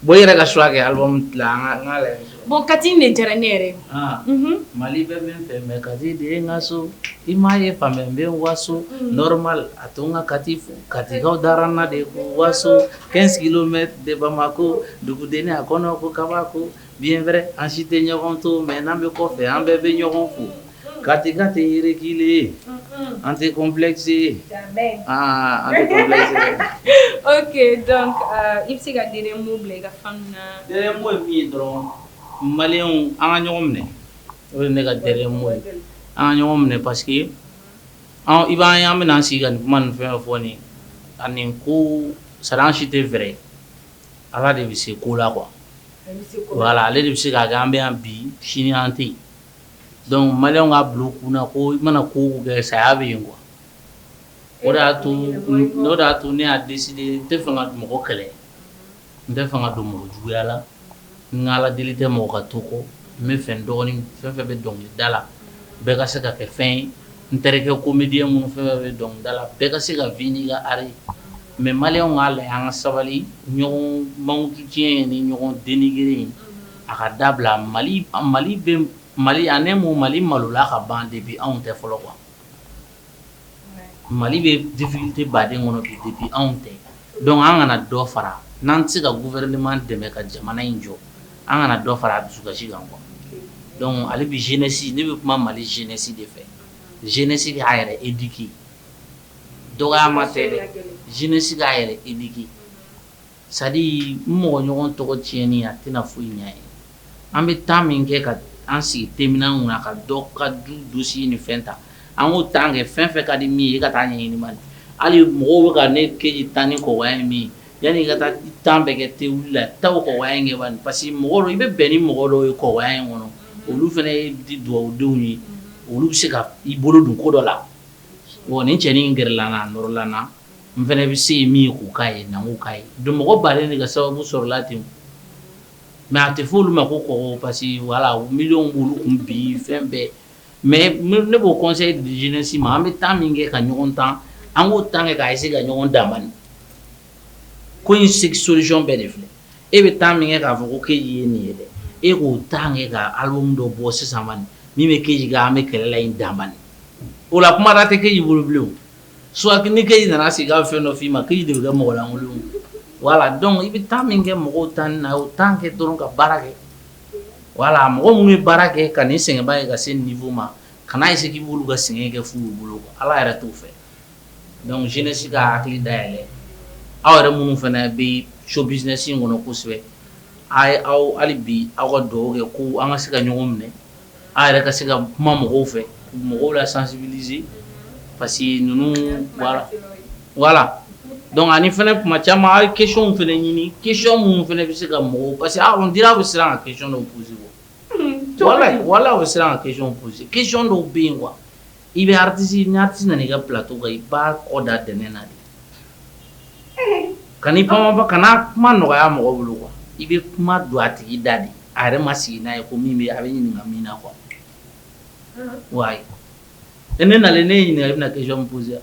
Bon yɛrɛ ka suwa kɛ album Kati diyara ne yɛrɛ Mali bɛɛ bɛ n fɛ mɛ Kati de ye n ka so i m ma ye fa n bɛ waso normal a to n ka kati fo katikaw dara n na de ko waso quinze kilomètres de Bamako dugudennin a kɔnɔko kabako Bien vrai an si tɛ ɲɔgɔn dɔn mɛ n'an bɛ kɔfɛ an bɛɛ bɛ ɲɔgɔn fo Katika tɛ yɛrɛ kɛlɛ an tɛ complexé ye aa oke i bɛ se ka ci mun bila i ka fan na min ye dɔrɔn mali an ka ɲɔgɔn minɛ o ye ne ka dernier mot ye an ka ɲɔgɔn minɛ parce que i b'a ye an bɛna sigi ka nin kuma nin fɛn fɔ nin ani ko sara si tɛ fɛɛrɛ ye Ala de bɛ se ko la kuwa Ala Ala de bɛ se k'a kɛ an bɛ yan bi sini an tɛ dɔnku maliyɛnw k'a bila u kun na ko i mana ko o ko kɛ saya bɛ yen kuwa o de y'a to o y'a to ne y'a décidé n tɛ fanga mɔgɔ kɛlɛ n tɛ fanga don mɔgɔ juguya la N k'Ala deli tɛ mɔgɔ ka to kɔ n b'a fɛ n dɔgɔnin fɛn fɛn bɛ dɔnkili da la bɛɛ ka se ka kɛ fɛn ye n terikɛ komediyɛn minnu fɛn fɛn bɛ dɔnkili da la bɛɛ ka se ka vivre n'a ka art ye mɛ maliyɛnw k'a lajɛ an ka sabali ɲɔgɔn mankutu tiɲɛ ni ɲɔgɔn dénigrer ye a k'a dabila mali mali bɛ mali ani ne mun mali malola a ka ban depuis anw tɛ fɔlɔ kuwa Mali bɛ difficulté ba de kɔnɔ bi depuis anw tɛ dɔnku an kana dɔ fara n'an tɛ se ka gouvernement dɛmɛ ka jamana in jɔ an kana dɔ fara a dusukasi kan kɔ dɔnku ale bɛ jeunesse ne bɛ kuma Mali jeunesse de fɛ jeunesse k'a yɛrɛ éduquer dɔgɔya ma tɛ dɛ jeunesse k'a yɛrɛ éduquer c'est à dire n mɔgɔ ɲɔgɔn tɔgɔ tiɲɛni a tɛna foyi ɲɛ a ye, an bɛ temps min kɛ ka an sigi thé minanw na ka dɔ ka du dossier ni fɛn ta an k'o temps kɛ fɛn o fɛn ka di min ye i ka taa ɲɛɲini bani, hali mɔgɔw bɛ ka ne kɛ k'i tan ni kɔkɔya ye min ye yanni i ka taa temps bɛɛ kɛ thé wili la taa o kɔkɔya in kɛ bani parce que mɔgɔ dɔw i bɛ bɛn ni mɔgɔ dɔw ye kɔkɔya in kɔnɔ olu fana ye duwawudenw ye olu bɛ se ka i bolo don ko dɔ la, bon nin cɛnin in gɛrɛla n na a nɔrɔla n na n fana bɛ se ye min k'u k'a ye na k'a ye don mɔgɔ ba de ka sababu sɔrɔla ten mais a tɛ fɔ olu ma kɔkɔ parce que voilà mi wolo tun bi fɛn bɛɛ mɛ ne b'o conseil di jeunesse ma an bɛ temps min kɛ ka ɲɔgɔn tan an k'o temps kɛ ka se ka ɲɔgɔn dɛmɛ ko in seg solution bɛɛ de filɛ e bɛ temps min kɛ k'a fɔ ko k'e ye nin ye dɛ e k'o temps kɛ ka ala dɔ bɔ sisan min bɛ ke an bɛ kɛlɛ la an dama o la kuma tɛ k'e y'i bolo bilen suwakini kɛ i nana sigi ka fɛn dɔ f'i ma k'i de bɛ kɛ mɔgɔlankolon ye voilà donc i bɛ temps min kɛ mɔgɔw tanni na o temps kɛ dɔrɔn ka baara kɛ voilà mɔgɔ minnu bɛ baara kɛ ka nin sɛgɛnba ye ka se niveau ma kana ye sigi bolo ka sɛgɛn kɛ fu bolo ala yɛrɛ t'o fɛ donc jeunesse ka hakili dayɛlɛ aw yɛrɛ minnu fana bɛ show business in kɔnɔ kosɛbɛ a ye aw hali bi aw ka dugawu kɛ ko an ka se ka ɲɔgɔn minɛ a yɛrɛ ka se ka kuma mɔgɔw fɛ mɔgɔw la sansibidize pa que ninnu wala dɔn ani fana kuma caman a ye kecw fana ɲini ke minnu fana bɛ se ka mɔgɔw parce que an di bɛ siran an ka kec dɔw psi wala wala bɛ siran an ka ke psi kec dɔw bɛ yen wa I bɛ artiste ni artiste nana i ka plateau kan i b'a kɔ da dɛnɛn na de, ee, kan'i pan-pan-pan kana kuma nɔgɔya mɔgɔ bolo quoi i bɛ kuma don a tigi da de a yɛrɛ ma sigi n'a ye ko min bɛ a bɛ ɲininka min na quoi, ɔnhɔn, wayi, ne nalen ne y'i ɲininka i bɛna question min poser wa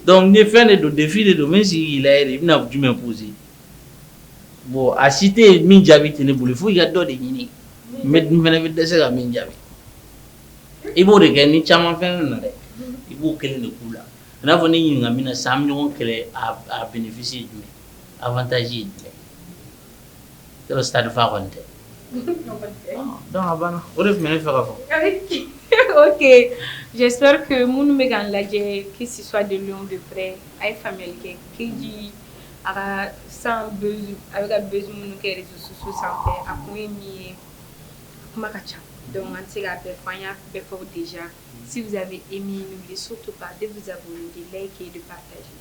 Donc ni fɛn de don défi de don même si i bɛna jumɛn poser bon a si tɛ yen min jaabi tɛ ne bolo fo i ka dɔ de ɲini mais dum fana bɛ dɛsɛ ka min jaabi i b'o de kɛ ni caman fana na dɛ i b'o kelen de k'u la n n'a fɔ ne ɲininka min na san ɲɔgɔn kɛlɛ a bénéfice jumɛn avantage ye jumɛn yɔrɔ stade fa kɔni tɛ, donc a banna o de tun bɛ ne fɛ ka fɔ, ok j'espère que minnu bɛ k'an lajɛ que ce soit de loin ou de près a ye faamuyali kɛ QG a ka sisan a bɛ ka buzz minnu kɛ réseaux sociaux sanfɛ a kun ye min ye a kuma ka ca donc an tɛ se k'a bɛɛ fɔ an y'a bɛɛ fɔ déjà si vous avez aimé n'oubliez surtout pas de vous abonner de liker et de partager